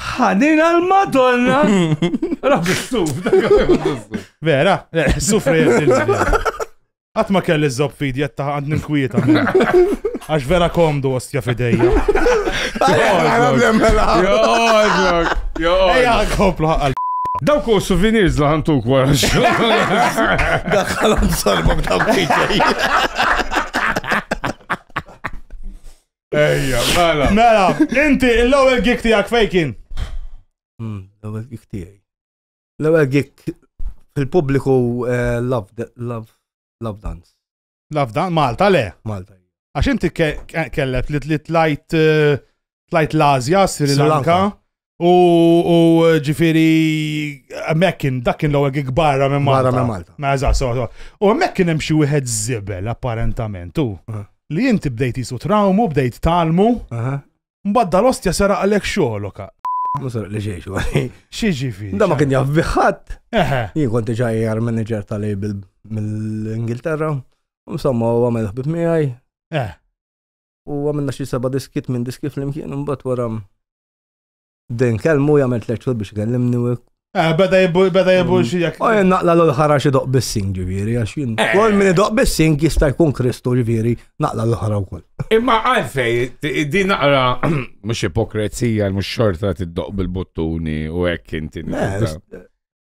[SPEAKER 3] Ħanina
[SPEAKER 4] l-Madonna! Rabbi stuf,
[SPEAKER 2] Vera, sufri Għat ma kelli zob fidi għatta għand ninkwieta. Għax vera komdu ostja fidejja. Ejja, komplu għal. Daw ku
[SPEAKER 4] souvenirs la ħantu kwara.
[SPEAKER 3] Daħħalom sorbok daw fidejja.
[SPEAKER 4] Ejja, mela. Mela,
[SPEAKER 2] inti l-ewwel gig tiegħek fejn kien? Hmm,
[SPEAKER 3] l-ewwel gig tiegħi. L-ewwel gig fil-pubbliku eh, love love dance. Love
[SPEAKER 2] dance Malta le? Malta. Għax
[SPEAKER 3] inti
[SPEAKER 2] kellek li tlajt eh, tlajt l-Azja, Sri Lanka. U ġifiri, mekkin, dakin l-għu għik barra minn Malta. Barra minn Malta. Ma eżatt, so,
[SPEAKER 3] so. U
[SPEAKER 2] mekkin hemm xi wieħed zibel, apparentament, u li jinti bdejt jisu trawmu, bdejt talmu, mbagħad dal-ostja sera għalek xogħloka. Musar li xiex, għaj.
[SPEAKER 3] Xiex fi. Da
[SPEAKER 2] ma kien jaf
[SPEAKER 3] biħat. Jien konti ġaj għar manager tal-label mill-Ingilterra. Insomma, u għamil ħbib miħaj. Eh. U għamilna xie seba diskit minn diskit fl-imkien, un bat waram. Din kelmu jagħmel tliet xhur biex ikellimni u Eh, beda jibbu,
[SPEAKER 2] beda jibbu mm. xijak. U jen naqla l-ħara
[SPEAKER 3] xie doq bissing ġiviri, għax jien. Eh. Kol minni doq bissing jista jkun Kristu ġiviri, naqla l-ħara u kol. Imma għalfej,
[SPEAKER 4] di naqra, mux ipokrezija, mux xorta t-doq bil-bottuni u ekk inti. Eh,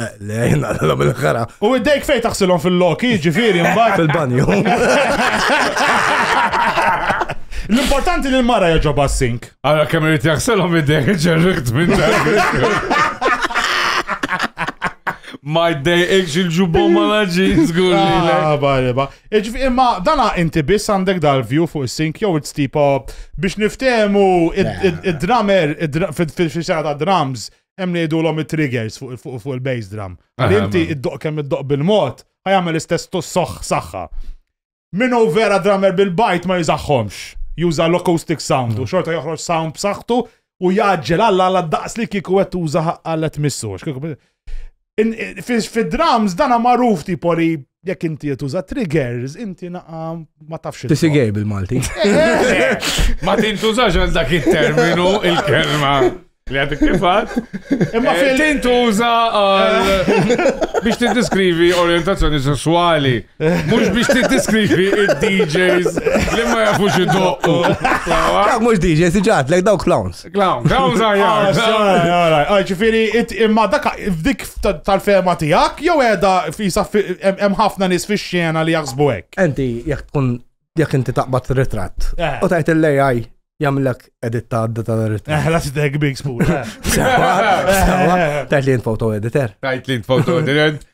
[SPEAKER 2] Eh, le, jina
[SPEAKER 3] l bil ħara U id-dejk fej
[SPEAKER 2] taħsilhom fil-loki, ġifiri, mbagħad. Fil-banju. L-importanti li l-mara jaġoba s-sink. Għara kemm irid jaħselhom
[SPEAKER 4] id-dejk ġerrikt minn dak. Ma jdejqx il-ġubom ma laġiż, gulli. Ah, bari, ba. Iġvi,
[SPEAKER 2] imma dana inti biss għandek dal-view fuq is-sink jew it's tipo biex niftehmu id-drummer fil-xara ta' drums hemm li jgħidulhom it-triggers fuq il-bass drum. Għal inti id-doq kemm id-doq bil-mod, ħajamel l-istess soħ saħħa. Minu vera drummer bil-bajt ma jizaxħomx. Juża l-acoustic sound u mm. xorta joħroġ sound b'saħħtu u jaġġel għalla għalla daqs li kieku qed tuża għallet missu. Fid-drums dana magħruf tipo li jekk inti tuża triggers, inti naqa ma tafx. Tisi gej bil-Malti.
[SPEAKER 4] Ma tintużax għal dak il-terminu il-kelma. Li għadik kifat. Imma eh, fil tintuża biex tiddiskrivi orientazzjoni sessuali. Mux biex tiddiskrivi il-DJs li ma jafux id-doqqu.
[SPEAKER 3] Mux DJs, iġat, lek daw clowns. Clown, clown
[SPEAKER 4] zaħjar. Ah, ġifiri,
[SPEAKER 2] imma dak f'dik tal-fema tijak, jow edha fisa hemm ħafna nis fi xena li jaħsbu hekk. Enti, jek tkun,
[SPEAKER 3] jek inti taqbad ritratt, eh. u tajt l-AI jamlek edit ta' għadda ta' l-ritratt. Eh, la t-deg big spool.
[SPEAKER 2] Eh.
[SPEAKER 3] Tajt li jint foto editor. Tajt li jint foto
[SPEAKER 4] editor.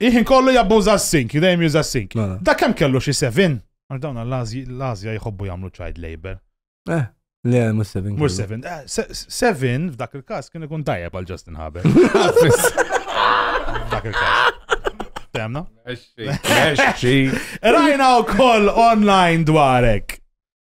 [SPEAKER 2] Il-ħin kollu jabbuża s-sink, dejjem juża s-sink. Mela. Da kemm kellu xi seven? Għax dawn l-Azja jħobbu jagħmlu child labor. Eh,
[SPEAKER 3] le, mhux seven. Mhux seven. Eh,
[SPEAKER 2] seven f'dak il-każ kien ikun tajjeb għal Justin Haber. F'dak il-każ. Temna? Rajna u koll online dwarek.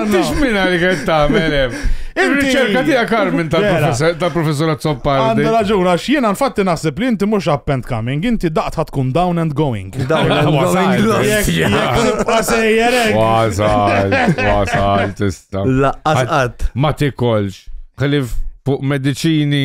[SPEAKER 4] Inti xmina li għed taħmel Il-riċerka tija Carmen tal-professor Azzoppar. Għandu raġun, għax jiena
[SPEAKER 2] nfatti naħseb li inti mux up and coming, inti daqt tkun down and going. Down and
[SPEAKER 3] going. Wasajt,
[SPEAKER 4] wasajt, tista. Laqqas
[SPEAKER 3] Ma tikolx.
[SPEAKER 4] Xalif fuq medicini.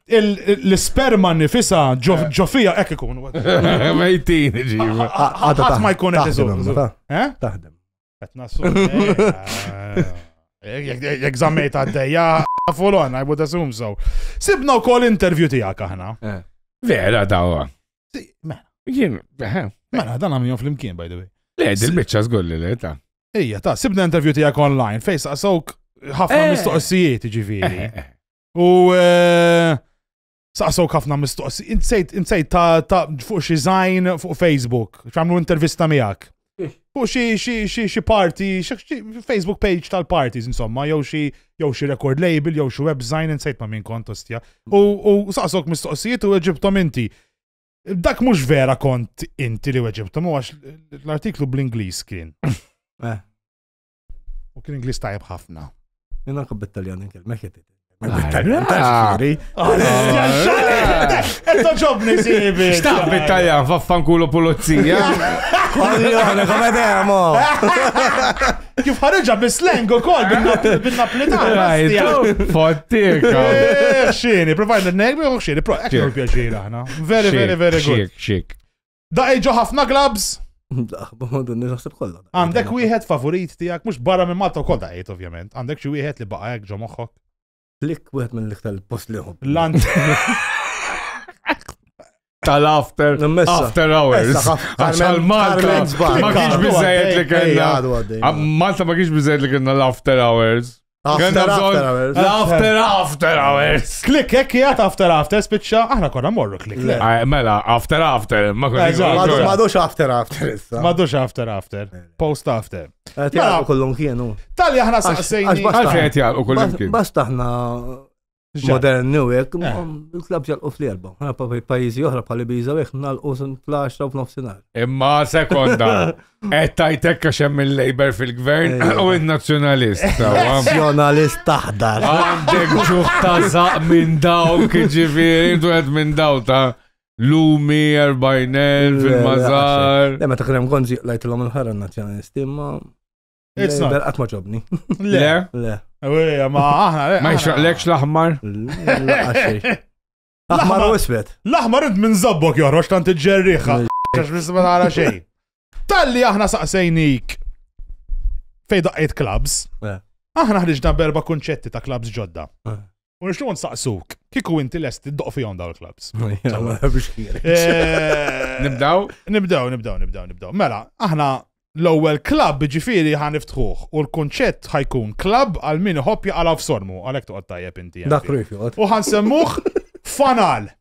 [SPEAKER 2] l-isperma nifisa ġo fija hekk ikun. Mejtin
[SPEAKER 4] ġiba. Qatt ma jkun
[SPEAKER 2] qed iżomm. Taħdem.
[SPEAKER 3] Qed nassu.
[SPEAKER 2] Jekk żammejt għaddejja fulon, I would assume so. Sibna wkoll intervju tiegħek aħna. Eh. Vera
[SPEAKER 4] dawa. Mela. Jien, eh.
[SPEAKER 2] mela dan għamilhom fl-imkien by the way. Le, dil-biċċa żgur
[SPEAKER 4] li le ta'. Ija, ta' sibna
[SPEAKER 2] intervju tiegħek online fejn saqsawk ħafna eh. mistoqsijiet ġifieri. U eh, saqsawk ħafna mistoqsi. Insejt, insejt ta' ta' fuq xi zajn fuq Facebook, xamlu intervista miegħek. Fuq xi xi xi xi party, xi- xi Facebook page tal-parties insomma, jew xi jew xi record label, jew xi web design insejt ma' min kont ostja. U u saqsawk mistoqsijiet u weġibtom inti. Dak mhux vera kont inti li weġibtom, u għax l-artiklu bl-Ingliż kien. Eh. U kien Ingliż tajjeb ħafna. Jena kub bit-Taljan
[SPEAKER 3] inkellmek jitid. Bit-Taljan taxkiri.
[SPEAKER 2] Etto ġobni sibi. Xtaq bit-Taljan
[SPEAKER 4] faffankulo pulizija. Koljone,
[SPEAKER 3] come demo.
[SPEAKER 2] Kif ħarġa bis-slang ukoll bin-Napolitan. Fottik.
[SPEAKER 4] Xini,
[SPEAKER 2] provajna n-negmi u xini, pro, ekku pjaċir aħna. Very, very, very good. Xik, xik. Da
[SPEAKER 4] iġo
[SPEAKER 2] ħafna glabs?
[SPEAKER 3] Għandek wieħed favorit
[SPEAKER 2] tiegħek mhux barra minn Malta wkoll daqgħid ovvjament. Għandek xi wieħed li baqa' hekk ġo moħħok. Lik wieħed
[SPEAKER 3] minn l-iktar post li ħobb. Lant.
[SPEAKER 4] Tal-after, after hours. Għaxal Malta, ma kienx bizzejt li kena. Malta ma kienx bizzejt li kena l-after hours. After, after hours. After, after hours. Klik, ekki għat
[SPEAKER 2] after, after, spiċċa, aħna konna morru klik. Mela, after,
[SPEAKER 4] after, ma konna. Madux after, after,
[SPEAKER 3] issa. Madux after, after,
[SPEAKER 2] post after. Mela, Tjaqqa kullum
[SPEAKER 3] kienu. Tal-li aħna saqsejni.
[SPEAKER 2] Għaxħet jaqqa kullum
[SPEAKER 4] kienu. Basta aħna
[SPEAKER 3] modern new hekk, eh. il-klab ġalqu fl-erba. Pajjiżi oħra bħal Ibiza hekk nalqu fl-10 u f'nofsinhar. Imma sekonda,
[SPEAKER 4] qed tajtek għax hemm il-Labor fil-gvern eh. u n-nazzjonalist. Nazzjonalist
[SPEAKER 3] taħdar. Għandek ġuħ
[SPEAKER 4] ta' zaq minn dawk, ġifieri, intu qed minn daw ta' Lumi, Erbajnel, fil-Mazar. Lemma ta' krem konzi
[SPEAKER 3] lajtilom il-ħarra nazzjonalisti, imma It's not. Qatt ma ġobni. Le. Le.
[SPEAKER 2] Eweja,
[SPEAKER 3] ma aħna.
[SPEAKER 2] Ma jxraqlekx
[SPEAKER 4] l-aħmar.
[SPEAKER 3] L-aħmar u isfet. L-aħmar int minn zabbok
[SPEAKER 2] joħroġ tant iġġerriħa. Għax nisma nara xejn. Talli aħna saqsejnik fej daqqet clubs. Aħna ħriġna berba kunċetti ta' clubs ġodda. U nixtiequ nsaqsuk, kieku inti lest tiddoq fihom dawn il-clubs. Eh, nibdaw? Nibdaw, nibdaw, nibdaw, nibdaw. Mela, aħna l-ewwel club ġifieri ħan niftħuh u l-kunċett ħajkun club għal min iħobb jaqalgħu f'sormu għalhekk toqgħod tajjeb inti. Dak U ħan
[SPEAKER 3] semmuh
[SPEAKER 2] fanal.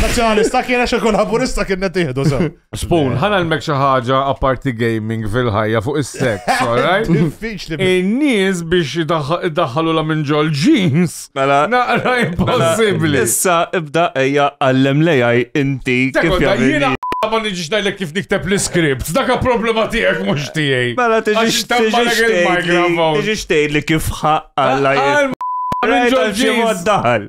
[SPEAKER 2] Nazzjonalista kien għax ikun laburista kien qed jieħdu sew. Spoon, ħana l-mek
[SPEAKER 4] xi ħaġa apparti gaming fil-ħajja fuq is-sex, alright? Diffiċli. In-nies biex idaħħalu la minn ġol jeans. Mela, naqra impossibbli. Issa ibda
[SPEAKER 8] ejja għallem lejaj inti kif jagħmel. Ma nġiġ najlek
[SPEAKER 4] kif nikteb l-script, daka problema tijek mux tijaj. Mela tiġiġ
[SPEAKER 8] tijaj li kif ħaqqa. Għal-ma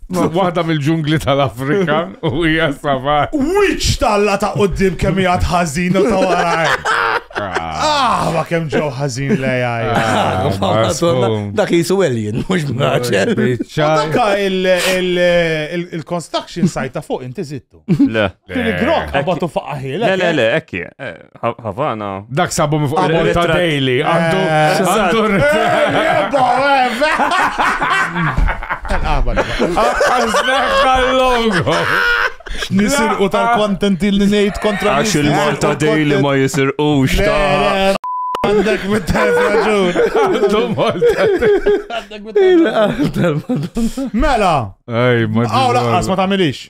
[SPEAKER 4] Waħda mill-ġungli tal-Afrika u hija savat. Wiċ talla
[SPEAKER 2] ta' qoddim kemm hija tħażin u ta' waraj. Ah, ma kemm ġew ħażin lej
[SPEAKER 3] Dak jisu alien, mhux mraċel. Dak
[SPEAKER 2] il-construction site ta' fuq inti zittu. Le. Tiri grok,
[SPEAKER 8] għabatu
[SPEAKER 2] faqqaħi. Le, le, le, ekki.
[SPEAKER 8] Eh, Havana. Dak sabu mi fuq
[SPEAKER 4] il-bol ta' Daily. Għandu. Għandu. Għazneħħa l-logo.
[SPEAKER 2] Nisir u tal-kontent il nejt kontra. Għax il-Malta Daily
[SPEAKER 8] ma jisir u xta. Għandek
[SPEAKER 2] mit-tajf raġun. Għandhom
[SPEAKER 4] Għandek mit-tajf
[SPEAKER 2] raġun. Mela. Għaw laqqas ma tamilix.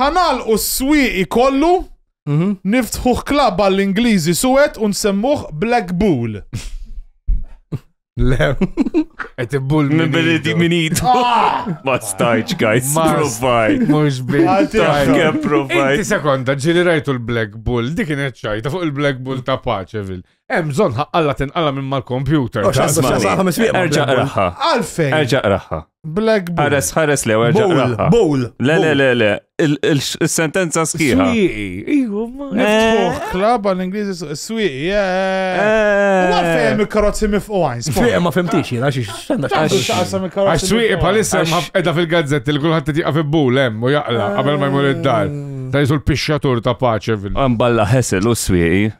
[SPEAKER 2] Ħanalqu s-swieqi kollu, mhm. niftħuh klab għall-Ingliżi suwed u nsemmuh Black Bull.
[SPEAKER 3] Le,
[SPEAKER 4] et bull minn biliti minit.
[SPEAKER 8] Ah! Ma stajċ, guys, provajt. Mux bil.
[SPEAKER 4] Taħke
[SPEAKER 8] provajt. Inti sekonda, ġili
[SPEAKER 4] rajtu l-Black Bull, dik kienet ċajta fuq il-Black Bull ta' paċevil. Hemm bżonn ħaqqalla tinqala minn mal-kompjuter.
[SPEAKER 8] Erġa' raħħa. Għalfejn. Erġa'
[SPEAKER 2] raħħa.
[SPEAKER 8] Black Bull. Ħares
[SPEAKER 2] ħares lew erġa'
[SPEAKER 8] raħħa. Bull. Le le le
[SPEAKER 3] le.
[SPEAKER 8] Is-sentenza sħiħa. Swieqi. Iju,
[SPEAKER 4] eh.
[SPEAKER 2] klaba l-Ingliżi swieqi. Eh. Eh. Għalfejn hemm il-karozzi mifqgħin. Swieqi ma fimtix jiena
[SPEAKER 3] xi x'għandha
[SPEAKER 4] Għax swieqi bħalissa qiegħda fil-gazzett li kulħadd tiqa' fi bull hemm u jaqla qabel ma jmur id-dar. Ta' jisul pixxatur ta' paċe. Mballa ħesel u
[SPEAKER 8] swieqi.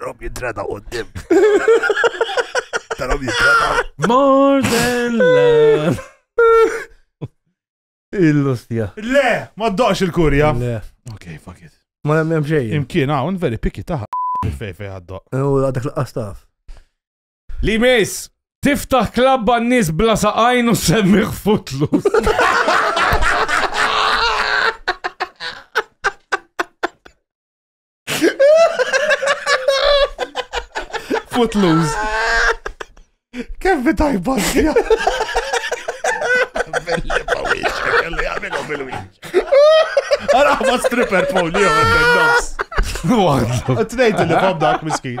[SPEAKER 3] Rob jidrada u d-dim.
[SPEAKER 4] Rob jidrada.
[SPEAKER 3] More than
[SPEAKER 4] love.
[SPEAKER 3] Il-lustja. Le,
[SPEAKER 2] ma d-doqx il-kurja. Le. Ok, fuck
[SPEAKER 3] it.
[SPEAKER 2] Ma nemmen xej.
[SPEAKER 3] Imkien hawn veri piki
[SPEAKER 2] taħ. Fej fej għaddoq. U għadak l-qastaf.
[SPEAKER 4] Li jmiss, tiftaħ klabb għan-nies bla saqajn u semmiħ futlus.
[SPEAKER 2] Footloose. Kemm fi tajba sija. Belli pa wieċa, kelli għamilu bil-wieċa. Għara ma stripper folio, għandem nofs. Għadlu. Tnejt li bob dak miskin.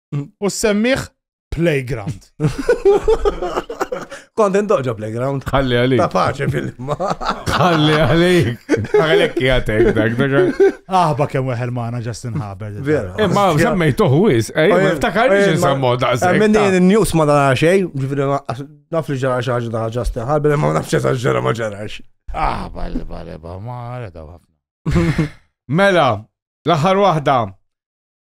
[SPEAKER 2] U semmiħ playground.
[SPEAKER 3] Kont indoġa playground. Ħalli għalik. Ta' paċe
[SPEAKER 4] fil-ma.
[SPEAKER 3] Ħalli
[SPEAKER 4] għalik. Għalek jgħatek dak, dak. Aħba kem weħel
[SPEAKER 2] maħna Justin Haber. Vera. Imma eh, semmej
[SPEAKER 4] toħwis, ej, eh, ftakar li ġinsammu da' sekk. Minn din il-news ma
[SPEAKER 3] dana xej, ġifiri naf li ġara xaġa da' Justin Haber, ma nafx ġara ġara ma ġarax. Ah, balli, balli,
[SPEAKER 2] balli, ma għara da' Mela,
[SPEAKER 4] l-aħħar waħda,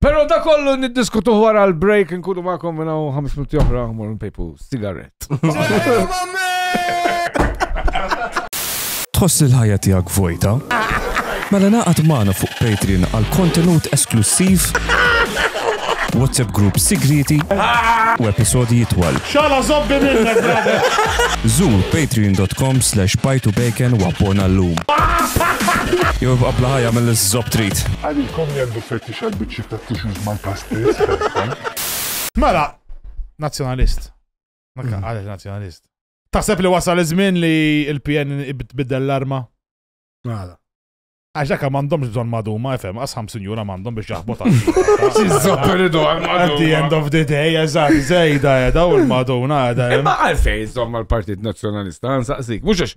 [SPEAKER 4] Pero da kollu niddiskutu wara l-break nkunu ma'kom minna u 5 minuti oħra mor npejpu sigaret.
[SPEAKER 8] Tħoss il-ħajja tiegħek vojta? Mela naqgħad magħna fuq Patreon għal kontenut esklussiv, WhatsApp group sigrieti u episodi jitwal. Xala zobbi minnek,
[SPEAKER 2] brother! Zur
[SPEAKER 8] patreon.com slash bajtu bacon u abbona l-lum. Jew ibqa' bla ħajja mill-iżżob trid.
[SPEAKER 7] Tfettix għal biċċiet ta' tissues mal-pastez tagħha. Mela,
[SPEAKER 2] nazzjonalist. Ma mm. għalek nazzjonalist. Taħseb li wasal iż-żmien li l-PN tbiddel l-arma? Għala.
[SPEAKER 3] Għax dak
[SPEAKER 2] m'għandhomx bżonn maduma, FM, għas 50 jura m'għandhom biex jaħbot At
[SPEAKER 4] the end of the day,
[SPEAKER 2] eżatt, zejda edha u l-maduna edha. Ma għalfej zomma
[SPEAKER 4] l-Partit Nazzjonalista, għansaqsik, mhux għax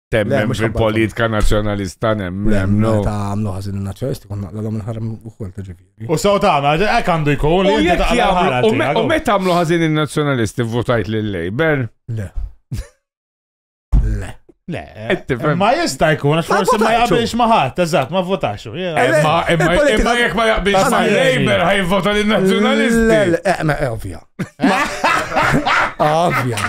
[SPEAKER 4] Temmen fil-politika nazjonalista nemmen. No, ta' għamlu għazin
[SPEAKER 3] il-nazjonalisti, kun naqla l-għom il-ħaram u kol ta' ġifi. U saw ta' għana, għek
[SPEAKER 2] għandu jkun li jek jgħamlu. U meta għamlu għazin
[SPEAKER 4] il-nazjonalisti votajt l-Labor? Le.
[SPEAKER 3] Le.
[SPEAKER 2] Le, eh, ma jista jkun, għax forse ma jaqbilx maħat, eżat, ma votax. Eh, eh, imma
[SPEAKER 4] jek ma jaqbilx ma Labor ħaj vota l-nazjonalisti. Le, le, ovvja.
[SPEAKER 3] Ovvja.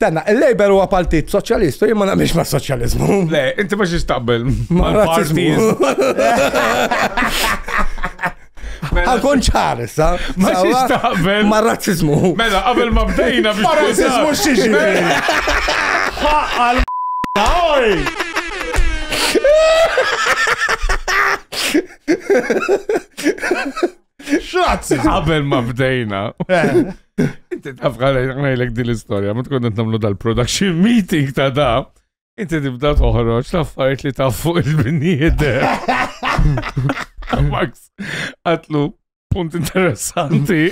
[SPEAKER 3] Tenna, il-Labor huwa partit soċjalistu, jien ma naqbilx ma' soċjalizmu. Le, inti ma xiex
[SPEAKER 4] taqbel. Ma razzizmu. Għakon
[SPEAKER 3] mela- ċar, sa? Ma xiex taqbel.
[SPEAKER 4] Ma razzizmu.
[SPEAKER 3] Mela, qabel ma bdejna
[SPEAKER 4] biex. Ma razzizmu xiex.
[SPEAKER 2] Għal X'razzizmu? Qabel ma
[SPEAKER 4] bdejna. Eh. Inti taf ngħidlek din l-istorja, ma tkun qed nagħmlu dal-production meeting ta' da. Inti tibda toħroġ l-affarijiet li taf fuq il-binijiet. Max, għatlu punt interessanti.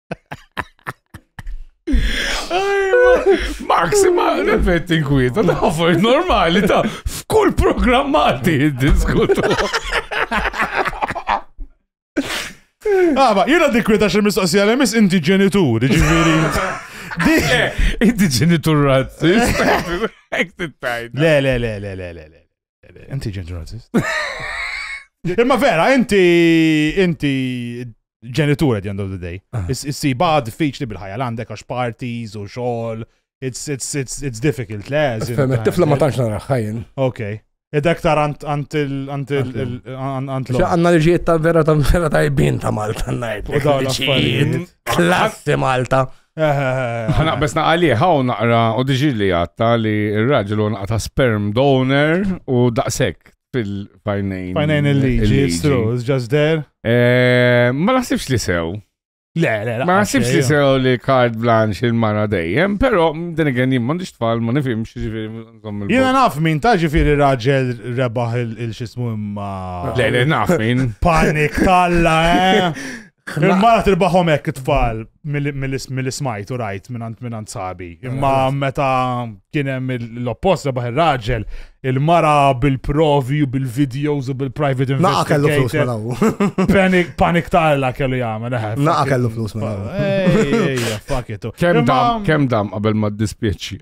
[SPEAKER 4] Maxima l-effetti nkwieta, ta' affarijiet normali ta' f'kull programm Malti jiddiskutu.
[SPEAKER 2] Għaba, jena dikwita xe mistoqsija li mis inti ġenitur, ġiviri.
[SPEAKER 4] Inti ġenitur razzist. Le, le,
[SPEAKER 2] le, le, le, le. Inti ġenġurazis. Imma vera, inti inti ġenitur at the end of the day. Ah. Is-siba diffiċli bil-ħajja l-għandek għax parties u xogħol. It's, it's, it's, it's difficult, le? Fem, tifla ma tantx nara
[SPEAKER 3] ħajjen. Ok. Ed
[SPEAKER 2] aktar għant l
[SPEAKER 3] Għanna liġijiet ta' vera ta' vera ta' jibin ta' Malta najt.
[SPEAKER 2] Klassi
[SPEAKER 3] Malta.
[SPEAKER 4] Naqbes naqali, ħaw naqra u diġi li għatta li il-raġel u naqta sperm donor u daqsek fil-fajnejn. Fajnejn il-liġi,
[SPEAKER 2] it's true, it's just there. Eh, ma
[SPEAKER 4] naħsibx li sew. Le, le, le. Ma
[SPEAKER 2] naħsibx li
[SPEAKER 4] sew li kard blanx il-mara dejjem, pero din għen jim mandiġ tfal, ma nifimx ġifiri. Jena naf min ta'
[SPEAKER 2] ġifiri raġel rebaħ il-xismu imma. Le, le, naf
[SPEAKER 4] min. Panik talla,
[SPEAKER 2] eh. Il-mara tilbaħom hekk it-tfal mill-ismajt u rajt minnant minnant sabi. Imma meta kien hemm l-oppost rebaħ ir-raġel, il-mara bil-provi u bil-videos u bil-private investigators. Naqa kellu
[SPEAKER 3] flus Panic,
[SPEAKER 2] panic tarla kellu jgħamil. Eh, Naqa kellu flus mela.
[SPEAKER 3] Ejja,
[SPEAKER 2] fuck it. Kem dam, kem dam
[SPEAKER 4] qabel ma dispieċi.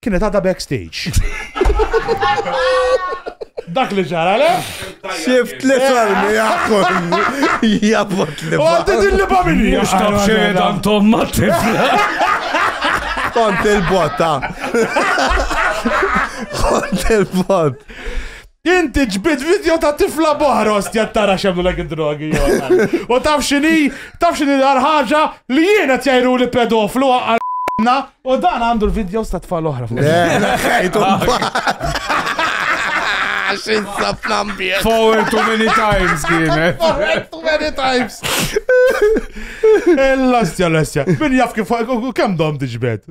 [SPEAKER 2] Kienet għadha backstage. Dak li ġara, le? Xif tlet
[SPEAKER 3] armi għakon. Jabot li. U għaddi din li
[SPEAKER 2] bamini. Mux taf xejn
[SPEAKER 4] għantom ma tifla.
[SPEAKER 3] Kont il-botta. Kont il-bot. Inti
[SPEAKER 2] ġbid video ta' tifla boħra ostja tara xemlu l drogi U taf xini, taf xini l-ħarħaġa li jiena tjajru li pedoflu għarna u dan għandu l-video sta' tfal oħra.
[SPEAKER 4] Xin sab nambie. Forward too many times kienet. Forward too many
[SPEAKER 2] times. L-ostja, l-ostja. Min jaf kif, kem dom diġbed?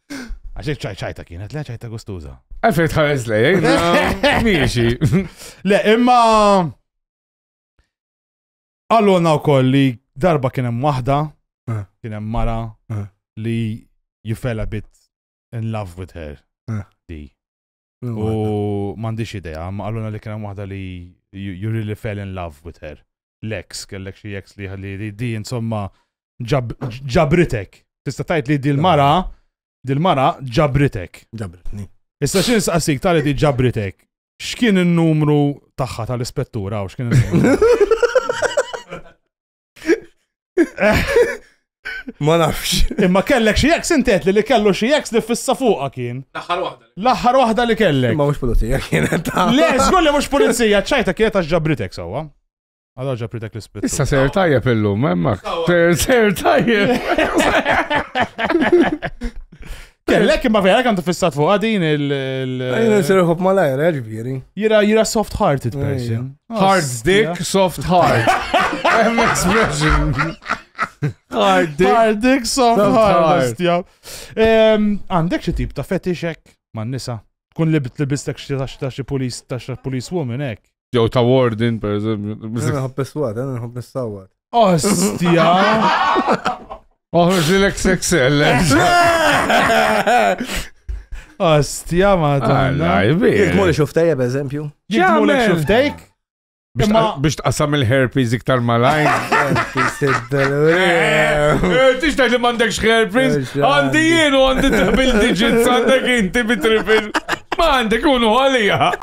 [SPEAKER 2] Għaxek ċaj ċajta kienet, le ċajta gustuza. Għaxek tħares le, eh?
[SPEAKER 4] miexi.
[SPEAKER 2] Le, imma. Għallona u koll li darba kienem wahda, eh. kienem mara eh. li you fell a bit in love with her. Di. U m'għandix idea, ma qaluna li kien hemm waħda li you really fell in love with her. Lex, kellek xi ex li li di insomma ġabritek. Tista' tajt li dil-mara dil-mara ġabritek. Ġabritni.
[SPEAKER 3] Issa xi nsaqsik
[SPEAKER 2] tali di ġabritek. X'kien in-numru tagħha tal-ispettura u x'kien in-numru?
[SPEAKER 3] Ma nafx. Imma kellek xi eks
[SPEAKER 2] intet li kellu xi eks li fissa fuqa kien. L-aħħar waħda. L-aħħar waħda li kellek. Ma mhux pulizija kienet.
[SPEAKER 3] Le, żgur li mhux
[SPEAKER 2] pulizija, ċajta kienet għax ġabritek sewwa. Għadha ġabritek l-ispit. Issa ser tajjeb illum,
[SPEAKER 4] hemmhekk. Ser tajjeb.
[SPEAKER 2] Kellek imma vera kantu fissat fuq għadin il. Għajna
[SPEAKER 3] s-serħob malajr, eh, ġviri. Jira, jira soft
[SPEAKER 2] hearted person. Hard dick,
[SPEAKER 4] soft heart. Hemm expression. Hard dick. Hard dick, soft heart.
[SPEAKER 2] Għandek xie tip ta' fetixek man nisa. Kun li bitlibistek xie ta' xie police, ta' xie police woman, ek. Jew ta' warden,
[SPEAKER 4] per eżempju. Jena nħobb niswat, jena
[SPEAKER 3] nħobb nissawat. Ostja!
[SPEAKER 4] Oħroġ li l-XXL.
[SPEAKER 2] Ostja ma Alla, jibbi. Jek moli xuftajja,
[SPEAKER 3] per eżempju. Jek moli xuftajk?
[SPEAKER 4] Biex tqassam il-herpes iktar malajn. Tix tajt li mandekx herpes, għandi jienu għandi t-bil digits għandek inti bitripil. Ma għandek unu għalija.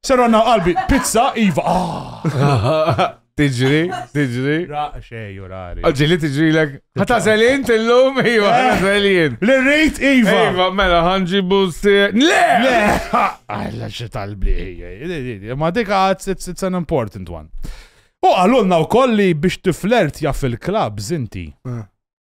[SPEAKER 2] Ser għanna qalbi, pizza, iva. Ah. Tiġri,
[SPEAKER 4] tiġri. Xej,
[SPEAKER 2] urari. Ġili tiġri l
[SPEAKER 4] Għata zelin tillum, iva, eh. għata zelin. L-rejt, iva.
[SPEAKER 2] Iva, mela, ħanġi
[SPEAKER 4] busti. Le! Le! Għalla
[SPEAKER 2] xie talbi, ma dik għad, it's an important one. U għalunna u kolli biex tiflert jaff il-klab, zinti. Eh.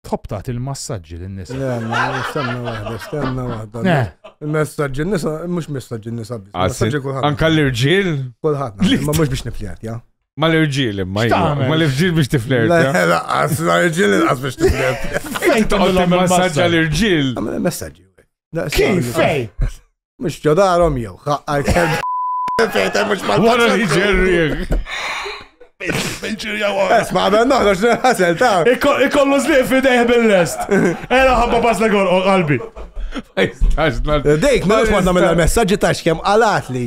[SPEAKER 2] Tħobb tagħti l-massaġġi lin-nisa. Le, le, stenna
[SPEAKER 3] waħda, stenna waħda. Le. Il-messaġġi n-nisa, mhux messaġġi n-nisa biss. Għassi, Messaġġi kulħadd. anka
[SPEAKER 4] l-irġiel? Kulħadd. Li- Ma
[SPEAKER 3] mhux biex nifljat, ja. Ma l-irġiel imma
[SPEAKER 4] jgħu. X'tagħmel? Ma l-irġiel biex tiflirt. Le, ja? le, qas, la rġiel
[SPEAKER 3] inqas biex tibdet. Fejn Toqgħod timmassaġġa
[SPEAKER 4] l-irġiel. Għamil messaġġi.
[SPEAKER 3] Kif
[SPEAKER 2] fej? Mux ġo
[SPEAKER 3] darhom jew ħaqqa jkun. Fejta mhux ma. Wara li
[SPEAKER 4] ġerriek.
[SPEAKER 3] Isma' għabel noħroġ nħasel ta'. Ikollu zliq
[SPEAKER 2] fidejh bil-lest. Era ħabba bas l qalbi.
[SPEAKER 3] Dejk, ma' mhux ma' nagħmel messaġġi ta' x'kemm qalat li.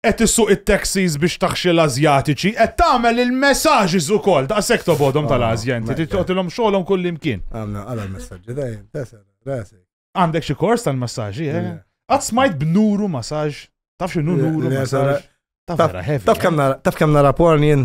[SPEAKER 2] Qed issuq it-taxis biex taħxi l-Ażjatiċi, qed tagħmel il-messages ukoll, daqshekk tobgħodhom tal-Ażja inti, trid tagħtilhom xogħolhom kullimkien. Għamna għala messaġġi
[SPEAKER 3] dejjem, tesel, rasi. Għandek xi kors
[SPEAKER 2] tal-massaġġi, eh? Qatt smajt b'nuru massaġġ, taf x'inhu nuru massaġġ. Taf kemm nara porn jien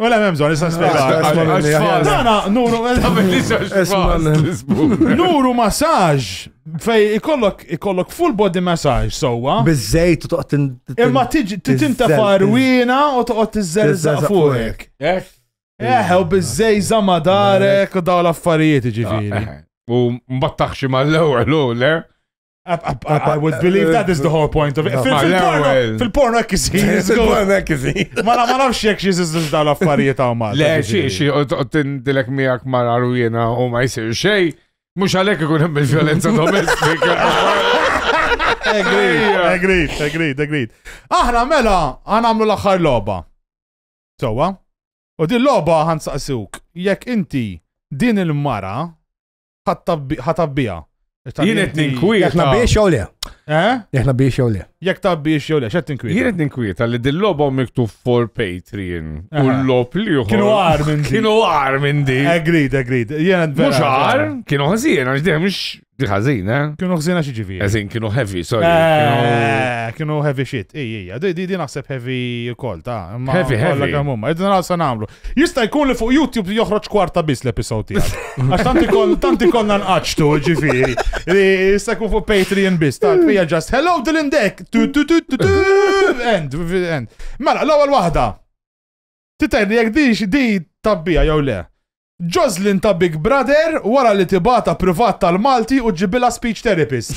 [SPEAKER 2] Wala mem zon, issa spiega. Dana, nuru, nuru massaġ fej ikollok ikollok full body massage sowa. Bizzejt u toqgħod
[SPEAKER 3] imma
[SPEAKER 2] tinta farwina u toqgħod tiżżerżaq fuqek. Eh, eh u bizzej zamadarek u daw l-affarijiet ġifieri. Eh, eh. U
[SPEAKER 4] mbattaħxi mal-ewwel le? I
[SPEAKER 2] would believe that is the whole point of it. Fil-porno hekk isir. Fil-porno hekk
[SPEAKER 3] isir. Ma nafx jekk
[SPEAKER 2] xi żiżilx dawn l-affarijiet hawn ma. Le xi xi
[SPEAKER 4] tindilek miegħek ma naru jiena u ma jsir xejn. Mhux għalhekk ikun hemm il-vjolenza domestika. Agreed,
[SPEAKER 2] agreed, agreed, agreed. Aħna mela għanamlu l-aħħar logħba. Sowa? U din logħba ħansaqsuk jekk inti din il-mara ħatabbiha. Jien
[SPEAKER 4] qed ninkwieta. Aħna biex jew le. Eh?
[SPEAKER 3] Aħna biex jew le. Jekk ta' biex jew le, x'qed
[SPEAKER 2] tinkwieta. Jien qed ninkwieta li din
[SPEAKER 4] logħba miktub for Patreon u l-lob li Kienu għar minn di. Kienu
[SPEAKER 2] għar minn di.
[SPEAKER 4] Agreed, agreed. Jien
[SPEAKER 2] Mhux
[SPEAKER 4] għar, kienu ħażin għax dejjem mhux di ħażin, eh? Kienu ħażin għax ġifieri.
[SPEAKER 2] Ħażin kienu heavy, sorry.
[SPEAKER 4] Eh,
[SPEAKER 2] kienu heavy shit. Ej, ej, di di naħseb heavy ukoll ta' heavy heavy. Għamumma,
[SPEAKER 4] id nagħsa
[SPEAKER 2] nagħmlu. Jista' jkun li fuq YouTube joħroġ kwarta biss l-episod tiegħek. Għax tant ikon tant ikonna nqaċtu ġifieri. Li jista' jkun fuq Patreon biss. Tant hija just hello Dylan Deck. Tu tu tu tu tu. End, end. Mela, l-ewwel waħda. Titgħid li jekk di xi di tabbija jew le. Jocelyn ta' Big Brother wara li tibata privat tal-Malti u ġibila speech therapist.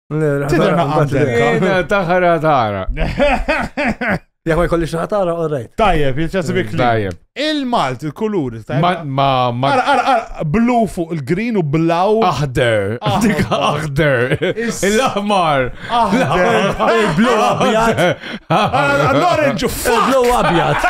[SPEAKER 4] Tidher
[SPEAKER 2] ma għandek. Taħra
[SPEAKER 4] taħra.
[SPEAKER 3] Jek ma jkollix ħatara, all right. Tajjeb, jitċasib ikli.
[SPEAKER 2] Tajjeb. Il-Malt,
[SPEAKER 4] il-kulur.
[SPEAKER 2] Ma, ma, ma.
[SPEAKER 4] Ara, ara, ara, blu
[SPEAKER 2] fuq il-green u blaw. Aħder. Ah.
[SPEAKER 4] Dik aħder. Il-ahmar. Aħder.
[SPEAKER 3] Il-blu abjad.
[SPEAKER 2] L-orange fuq. Il-blu abjad.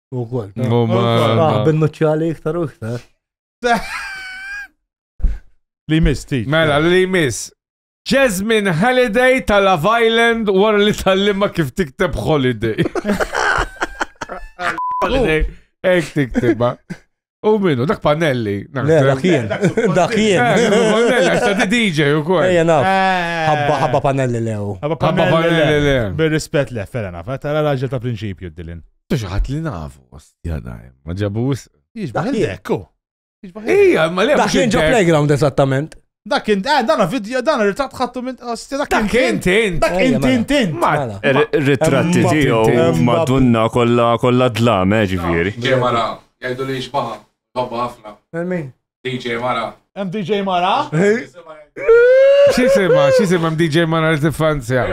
[SPEAKER 2] U għol.
[SPEAKER 3] U ma. Bin-nuċċali iktar u iktar.
[SPEAKER 2] Li miss, ti. Mela, li miss.
[SPEAKER 4] Jasmine Halliday ta' Love Island wara li tal-limma kif tikteb Holiday. Holiday. Ek tiktibha. U minnu, dak pannelli. Le, dak jien.
[SPEAKER 3] Dak jien.
[SPEAKER 4] Pannelli, għax ta' DJ u kol. Ejja, naf.
[SPEAKER 3] Ħabba, ħabba pannelli lew. Ħabba pannelli
[SPEAKER 2] lew. Bir-rispet le, fera naf. Tara raġel ta' prinċipju d-dilin. Tuġaħat li nafu,
[SPEAKER 4] ostja dajm. Ma ġabus. Iġbaħ il-dekku.
[SPEAKER 2] Ija,
[SPEAKER 4] ma li għax. Dak jien ġo playground
[SPEAKER 3] eżattament. Dak int, eh, dan
[SPEAKER 2] video, dan ritratt ħattu minn. Ostia, dak Dak int, int, int.
[SPEAKER 4] Dak Ejja, int, mela. int, int. Mela.
[SPEAKER 9] Ritratti Emma tiegħu Pinti. madunna kollha kollha dlam, eh, ġifieri. DJ Mara, jgħidu
[SPEAKER 4] li xbaħa, hobba ħafna. Min?
[SPEAKER 3] DJ Mara.
[SPEAKER 4] Hemm DJ Mara.
[SPEAKER 2] Xisima,
[SPEAKER 4] xisima mdj ma nar infanzja.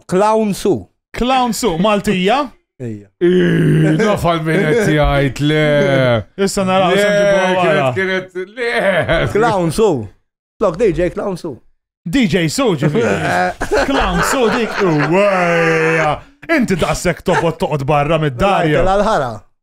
[SPEAKER 3] Clown Su. Clown su
[SPEAKER 2] Maltija.
[SPEAKER 3] Ejja. Nafal
[SPEAKER 4] minn qed jgħid le. Issa naraw
[SPEAKER 2] Le, x'nġibu kienet wara. kienet
[SPEAKER 4] le. Clown su.
[SPEAKER 3] Lok DJ Clown su. DJ su
[SPEAKER 2] ġifieri. Clown su dik. Uwejja. Inti daqshekk tobot
[SPEAKER 3] toqgħod
[SPEAKER 2] barra mid-darja. L-ħara.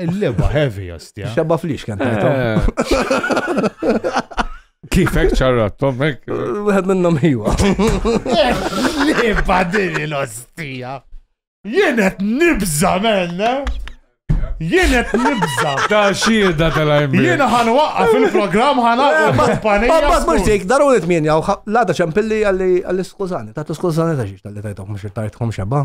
[SPEAKER 2] Il-leba heavy jostja. Xabba flix kien eh.
[SPEAKER 4] Kifek ċarrat, tommek? Wieħed minnhom ħiwa.
[SPEAKER 2] Leba din l-ostija. Jien qed nibża menna. Jien qed nibża. Ta' xieda
[SPEAKER 4] tal-għajmi. Jien ħan waqqa
[SPEAKER 2] fil-programm ħan waqqa mat-panija. Ma mhux dik, daru li
[SPEAKER 3] tmien jaw, lada ċempilli għalli skużani, ta' skużani ta' xiex tal-li tajtok mhux tajtkom xebba.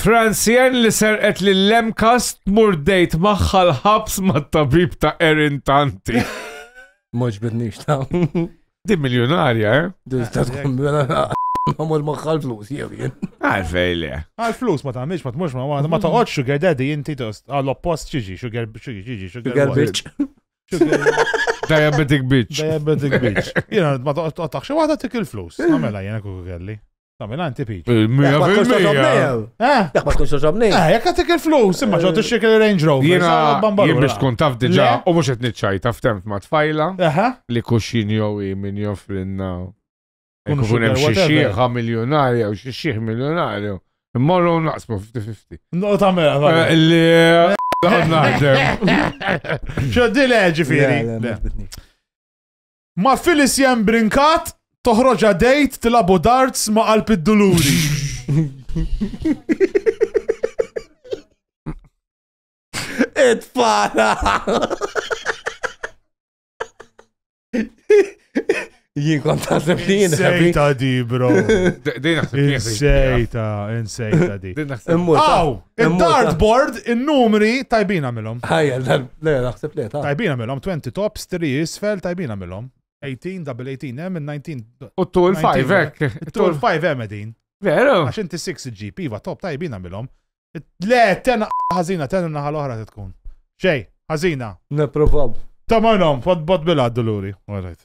[SPEAKER 4] Transien li serqet li l-emkas tmur dejt maħħa l-ħabs ma' tabib ta' Erin Tanti. Mux
[SPEAKER 3] bidnix ta' Di
[SPEAKER 4] miljonarja, eh? Dil ta' tkun Għamur
[SPEAKER 3] maħħal flus, jew jien. Għalfej li.
[SPEAKER 4] Għal flus ma
[SPEAKER 2] tagħmilx ma tmux ma għadha ma toqgħod sugar daddy inti tost għal oppost ċiġi sugar ċiġi sugar bitch.
[SPEAKER 4] Diabetic bitch. Diabetic bitch.
[SPEAKER 2] Jiena ma toqgħodx waħda tik il-flus. Għamela jiena kuku kelli. Dominant tipiċ. Il-mija fil-mija. Eh? Dak
[SPEAKER 3] ma tkunx toġobni. Eh, jekk għatik il-flus,
[SPEAKER 2] imma ġo tixxek il-Range Rover. Jena, jien biex tkun
[SPEAKER 4] taf diġa, u mux qed niċċaj taf temp ma tfajla. Li kuxin jow min joffrinna. Kun hemm xi xieħa miljonarja u xi xieħ miljonarju. Immorru naqsmu 50-50. No ta' mela. Eh,
[SPEAKER 2] li
[SPEAKER 4] eh, naħdem.
[SPEAKER 2] Xo di leġi fieri. Ma Phyllis Jen Brincat, toħroġha dejt tilabu darts ma qalb id-duluri.
[SPEAKER 3] Itfana! Jien kont taħseb li jien Insejta di, bro.
[SPEAKER 2] Din naħseb Insejta, insejta di. Din naħseb. Aw! Il-dartboard, il-numri, tajbin għamilom. Ħajja, le,
[SPEAKER 3] naħseb le, ta' Tajbin għamilom, 20 tops,
[SPEAKER 2] 3 isfel, tajbin għamilom. 18, double 18, hemm il-19. U t-tul 5 hekk.
[SPEAKER 4] Tul 5 hemm edin.
[SPEAKER 2] Veru. Għax inti
[SPEAKER 4] 6 GP,
[SPEAKER 2] va top, tajbin għamilom. Le, tenna ħazina, tenna naħal oħra tkun. Xej, ħazina. Neprovaw.
[SPEAKER 3] Tamanom, fod
[SPEAKER 2] bot bil-għaddu l-uri. Għarajt.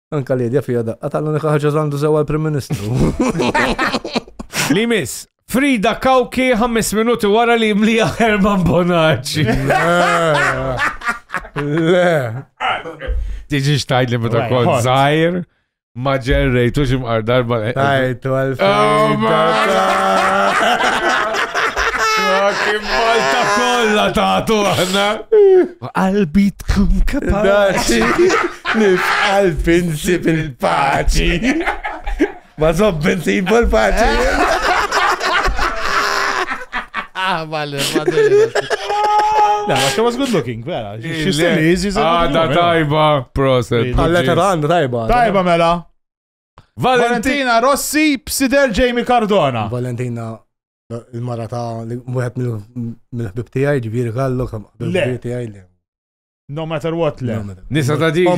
[SPEAKER 4] Anka li dja
[SPEAKER 3] fija daqqa tal-unika ħaġa għandu sewa l-Prim Ministru.
[SPEAKER 4] Li miss, Frida Kawki 5 minuti wara li mlija Herman Bonacci.
[SPEAKER 3] Le.
[SPEAKER 4] Tiġi xtajt li meta kont zaħir, ma ġerrejtu ximqar darba. Tajtu
[SPEAKER 3] għal-Frida.
[SPEAKER 4] Kim Malta kolla taħtu għanna. B'qalbi tkun kapaċi. Li
[SPEAKER 3] b'qalbi nsib il-paċi. Ma zobbi nsib il-paċi. Ah,
[SPEAKER 2] vale, La, ma she was good looking, vera. She still is, is Ah, da tajba,
[SPEAKER 4] proset. Għalla ta' għanda tajba.
[SPEAKER 3] Tajba mela.
[SPEAKER 2] Valentina Rossi, Psider
[SPEAKER 3] Jamie
[SPEAKER 2] Cardona. Valentina
[SPEAKER 3] Il-mara ta' wieħed mill-ħbib tiegħi ġifieri gallu ħbib tiegħi li. No matter
[SPEAKER 2] what le. Nisa ta' dik.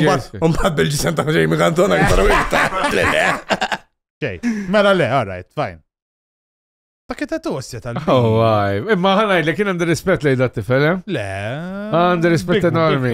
[SPEAKER 4] Umbat bil-ġisem ta'
[SPEAKER 3] Jamie Cantona iktar wikta. Xej,
[SPEAKER 2] mela le, all right, fine. Ta' kitta tossja tal Oh, għaj. Imma
[SPEAKER 4] ħanaj, li kien għandi rispet li da' tifel, eh? Le.
[SPEAKER 2] Għandi
[SPEAKER 4] rispet enormi.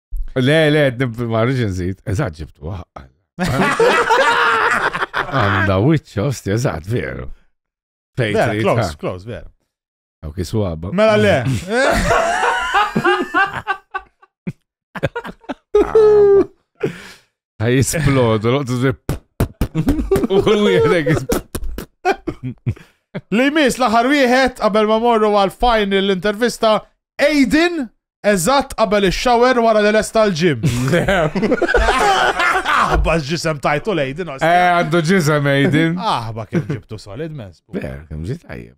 [SPEAKER 4] Le, le, ma rridx nżid. Eżatt ġibtu għaqqal. Għanda wiċċ, osti, eżatt, veru. Fejn.
[SPEAKER 2] Close, close, veru. Għaw kisu
[SPEAKER 4] għabba. Mela le. Ħaj jisplodu, l-qoddu zip. U kull wieħed
[SPEAKER 2] Li mis l-aħħar wieħed qabel ma morru għal final l-intervista Aiden eżatt qabel ix-shower wara li lesta l-ġim. Aħba ġisem tajtu l-Aiden. Eh, għandu ġisem
[SPEAKER 4] Aiden. Aħba kif ġibtu
[SPEAKER 2] solid mens. Ber, kif ġit tajjeb.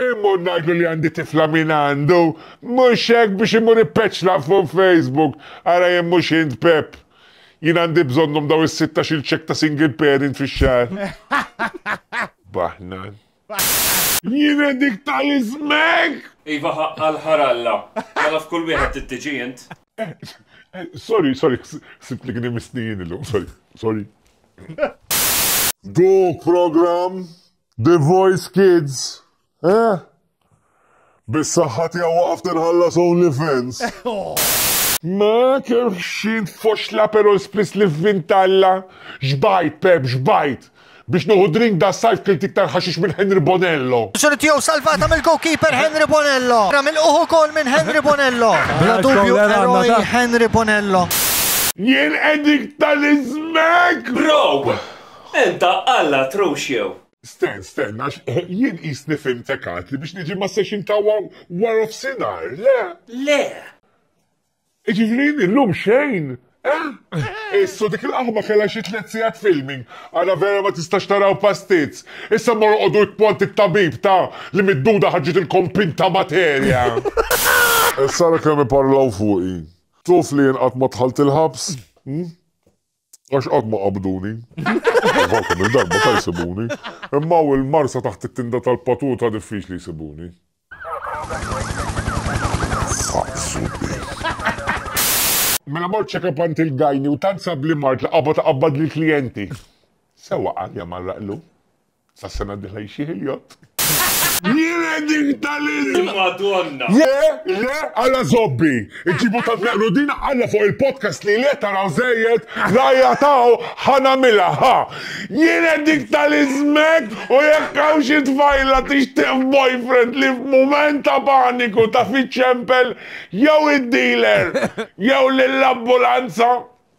[SPEAKER 7] Immur ngħidlu li għandi tifla min għandu, mhux hekk biex imur ippeċla fuq Facebook, ara jekk mhux int Pepp. Jien għandi bżonnhom daw is-sittax-il cheque ta' single parent fix-xahar. Baħnan. Jiena dik tal-ismek! Iva ħaqqa
[SPEAKER 9] għall-ħar Alla. Mela f'kull wieħed trid tiġi int.
[SPEAKER 7] Sorry, sorry, ħsibt li kien imissni jien illum, sorry, sorry. Dik programm The Voice Kids, eh? Bis-saħħa tiegħu waqaft inħallas OnlyFans. Ma kerħxin tfoxla pero l-spiss li f'vintalla. Xbajt, Pep, xbajt. Biex nuħu drink da sajf kilt iktar ħaxix minn Henry Bonello. Xorri tiegħu salvata
[SPEAKER 10] mill-goalkeeper Henry Bonello. Ramil uħu kol minn Henry Bonello. Bla dubju eroj Henry Bonello. Jien
[SPEAKER 7] edik tal-izmek! Bro!
[SPEAKER 9] Int Alla trux jew? Stenn, stenn,
[SPEAKER 7] għax jien qisni fhimtek għad li biex niġi ma setax int hawn warofsinhar, le? Le! Jiġifieri jien illum xejn, eh? Issu, dik il-qaħba kellha xi tliet sigħat filming, ara vera ma tistax tara u pastizz. Issa mmorru qogħdu jkpont it-tabib ta' li mid-duda ħarġitilkom pinta materja! Issa ara kemm iparlaw fuqi. Tuf li jien qatt ma dħalt il-ħabs? Għax qatt ma qabduni. Għaw kemm il-darba ta' jsibuni. Imma hawn il-marsa taħt it-tinda tal-patuta diffiċli jsibuni. Fazzu Mela mort check-up għand il-gajni u tant sabli mart li qabad qabbad lill-klijenti. Sewwa qalja marraqlu. Sas-sena d-dieħla jixjieħ il-jott. Jiena
[SPEAKER 9] dik tal-ilm! Madonna! Le,
[SPEAKER 7] le, alla zobbi! Iġibu ta' tnaqru din alla fuq il-podcast li le taraw zejjed, rajja taw, ħana mila, ha! Jiena dik tal-izmek u jekk hawn xi tfajla tixtieq boyfriend li f'mument ta' paniku taf iċċempel jew id-dealer jew lill-ambulanza!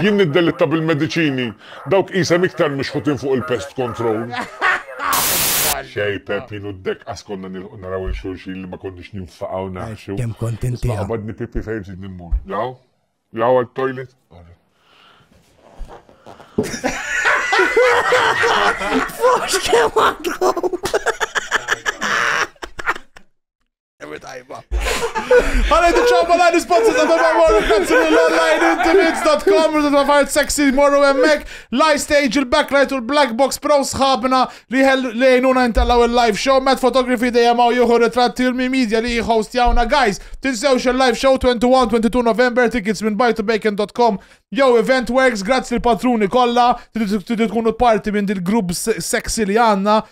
[SPEAKER 7] Jien niddelitta bil-mediċini, dawk qisem iktar mixħutin fuq il-pest control. Xej, Peppin u d-dekqas konna nilqu naraw il-xulxin li ma konniex ninfaqaw naħxu. Kem kont inti. Għabadni
[SPEAKER 3] Pippi fejn
[SPEAKER 7] ġid nimmur. Law? Law għal-toilet?
[SPEAKER 3] Forse che
[SPEAKER 2] Għalaj t-ċabba la risponsi ta' beba morru kazzu l-online intimates.com rridu ta' fajt sexy morru emmek live stage il-backlight u l-black box pro sħabna li lejnuna intallaw il-live show met fotografi dejjem għaw juhu ritratti u l-media li host jawna guys tinsewx il-live show 21-22 November tickets minn buytobacon.com Yo, Event Works, grazzi l-patruni kolla, t-tkunu parti minn dil-grupp sexy li għanna,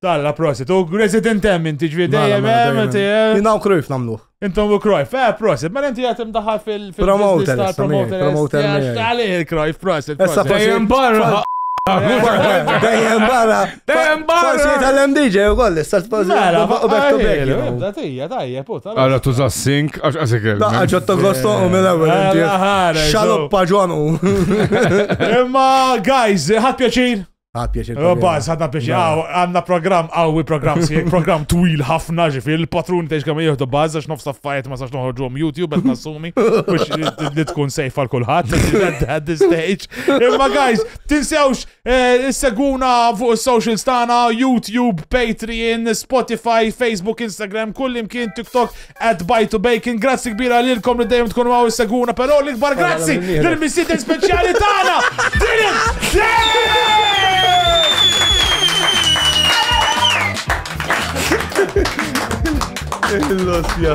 [SPEAKER 3] Talla, prosit. U
[SPEAKER 2] resident hemm inti ġvi dejjem hemm inti. Jina u
[SPEAKER 3] krojf namluħ. Intom u krojf, eh,
[SPEAKER 2] prosit. Ma inti għatem daħal fil- Promoter,
[SPEAKER 3] promoter. Promoter. Għalih
[SPEAKER 2] il-krojf, prosit. Essa dejjem barra.
[SPEAKER 3] Dejjem barra. Dejjem barra. Forsi
[SPEAKER 4] tal-hemm DJ u
[SPEAKER 3] koll, issa spazi. Mela, u back to back.
[SPEAKER 2] Datija, tajja, puta. Għara tuża sink,
[SPEAKER 4] għax għasek il. Daqqa ġotto gosto u
[SPEAKER 3] mela għu. Xalop paġwanu.
[SPEAKER 2] Imma, guys, ħat pjaċir. Għad pjaċir. Għabba,
[SPEAKER 3] għadna pjaċir.
[SPEAKER 2] Għanna program, għawi program, si program twil ħafna ġifi, il-patrun teġ kam jihdu bazza, xnof saffajt ma sax noħorġu YouTube, għed nassumi, biex li tkun sejf għal kullħat, at this stage. Imma guys, tinsewx, eh, seguna fuq social stana, YouTube, Patreon, Spotify, Facebook, Instagram, kullim kien TikTok, At Bite to Bacon, grazzi kbira lilkom li dejjem tkunu għaw seguna, pero l-ikbar grazzi l-missiden speċjali tagħna!
[SPEAKER 3] Il-losja.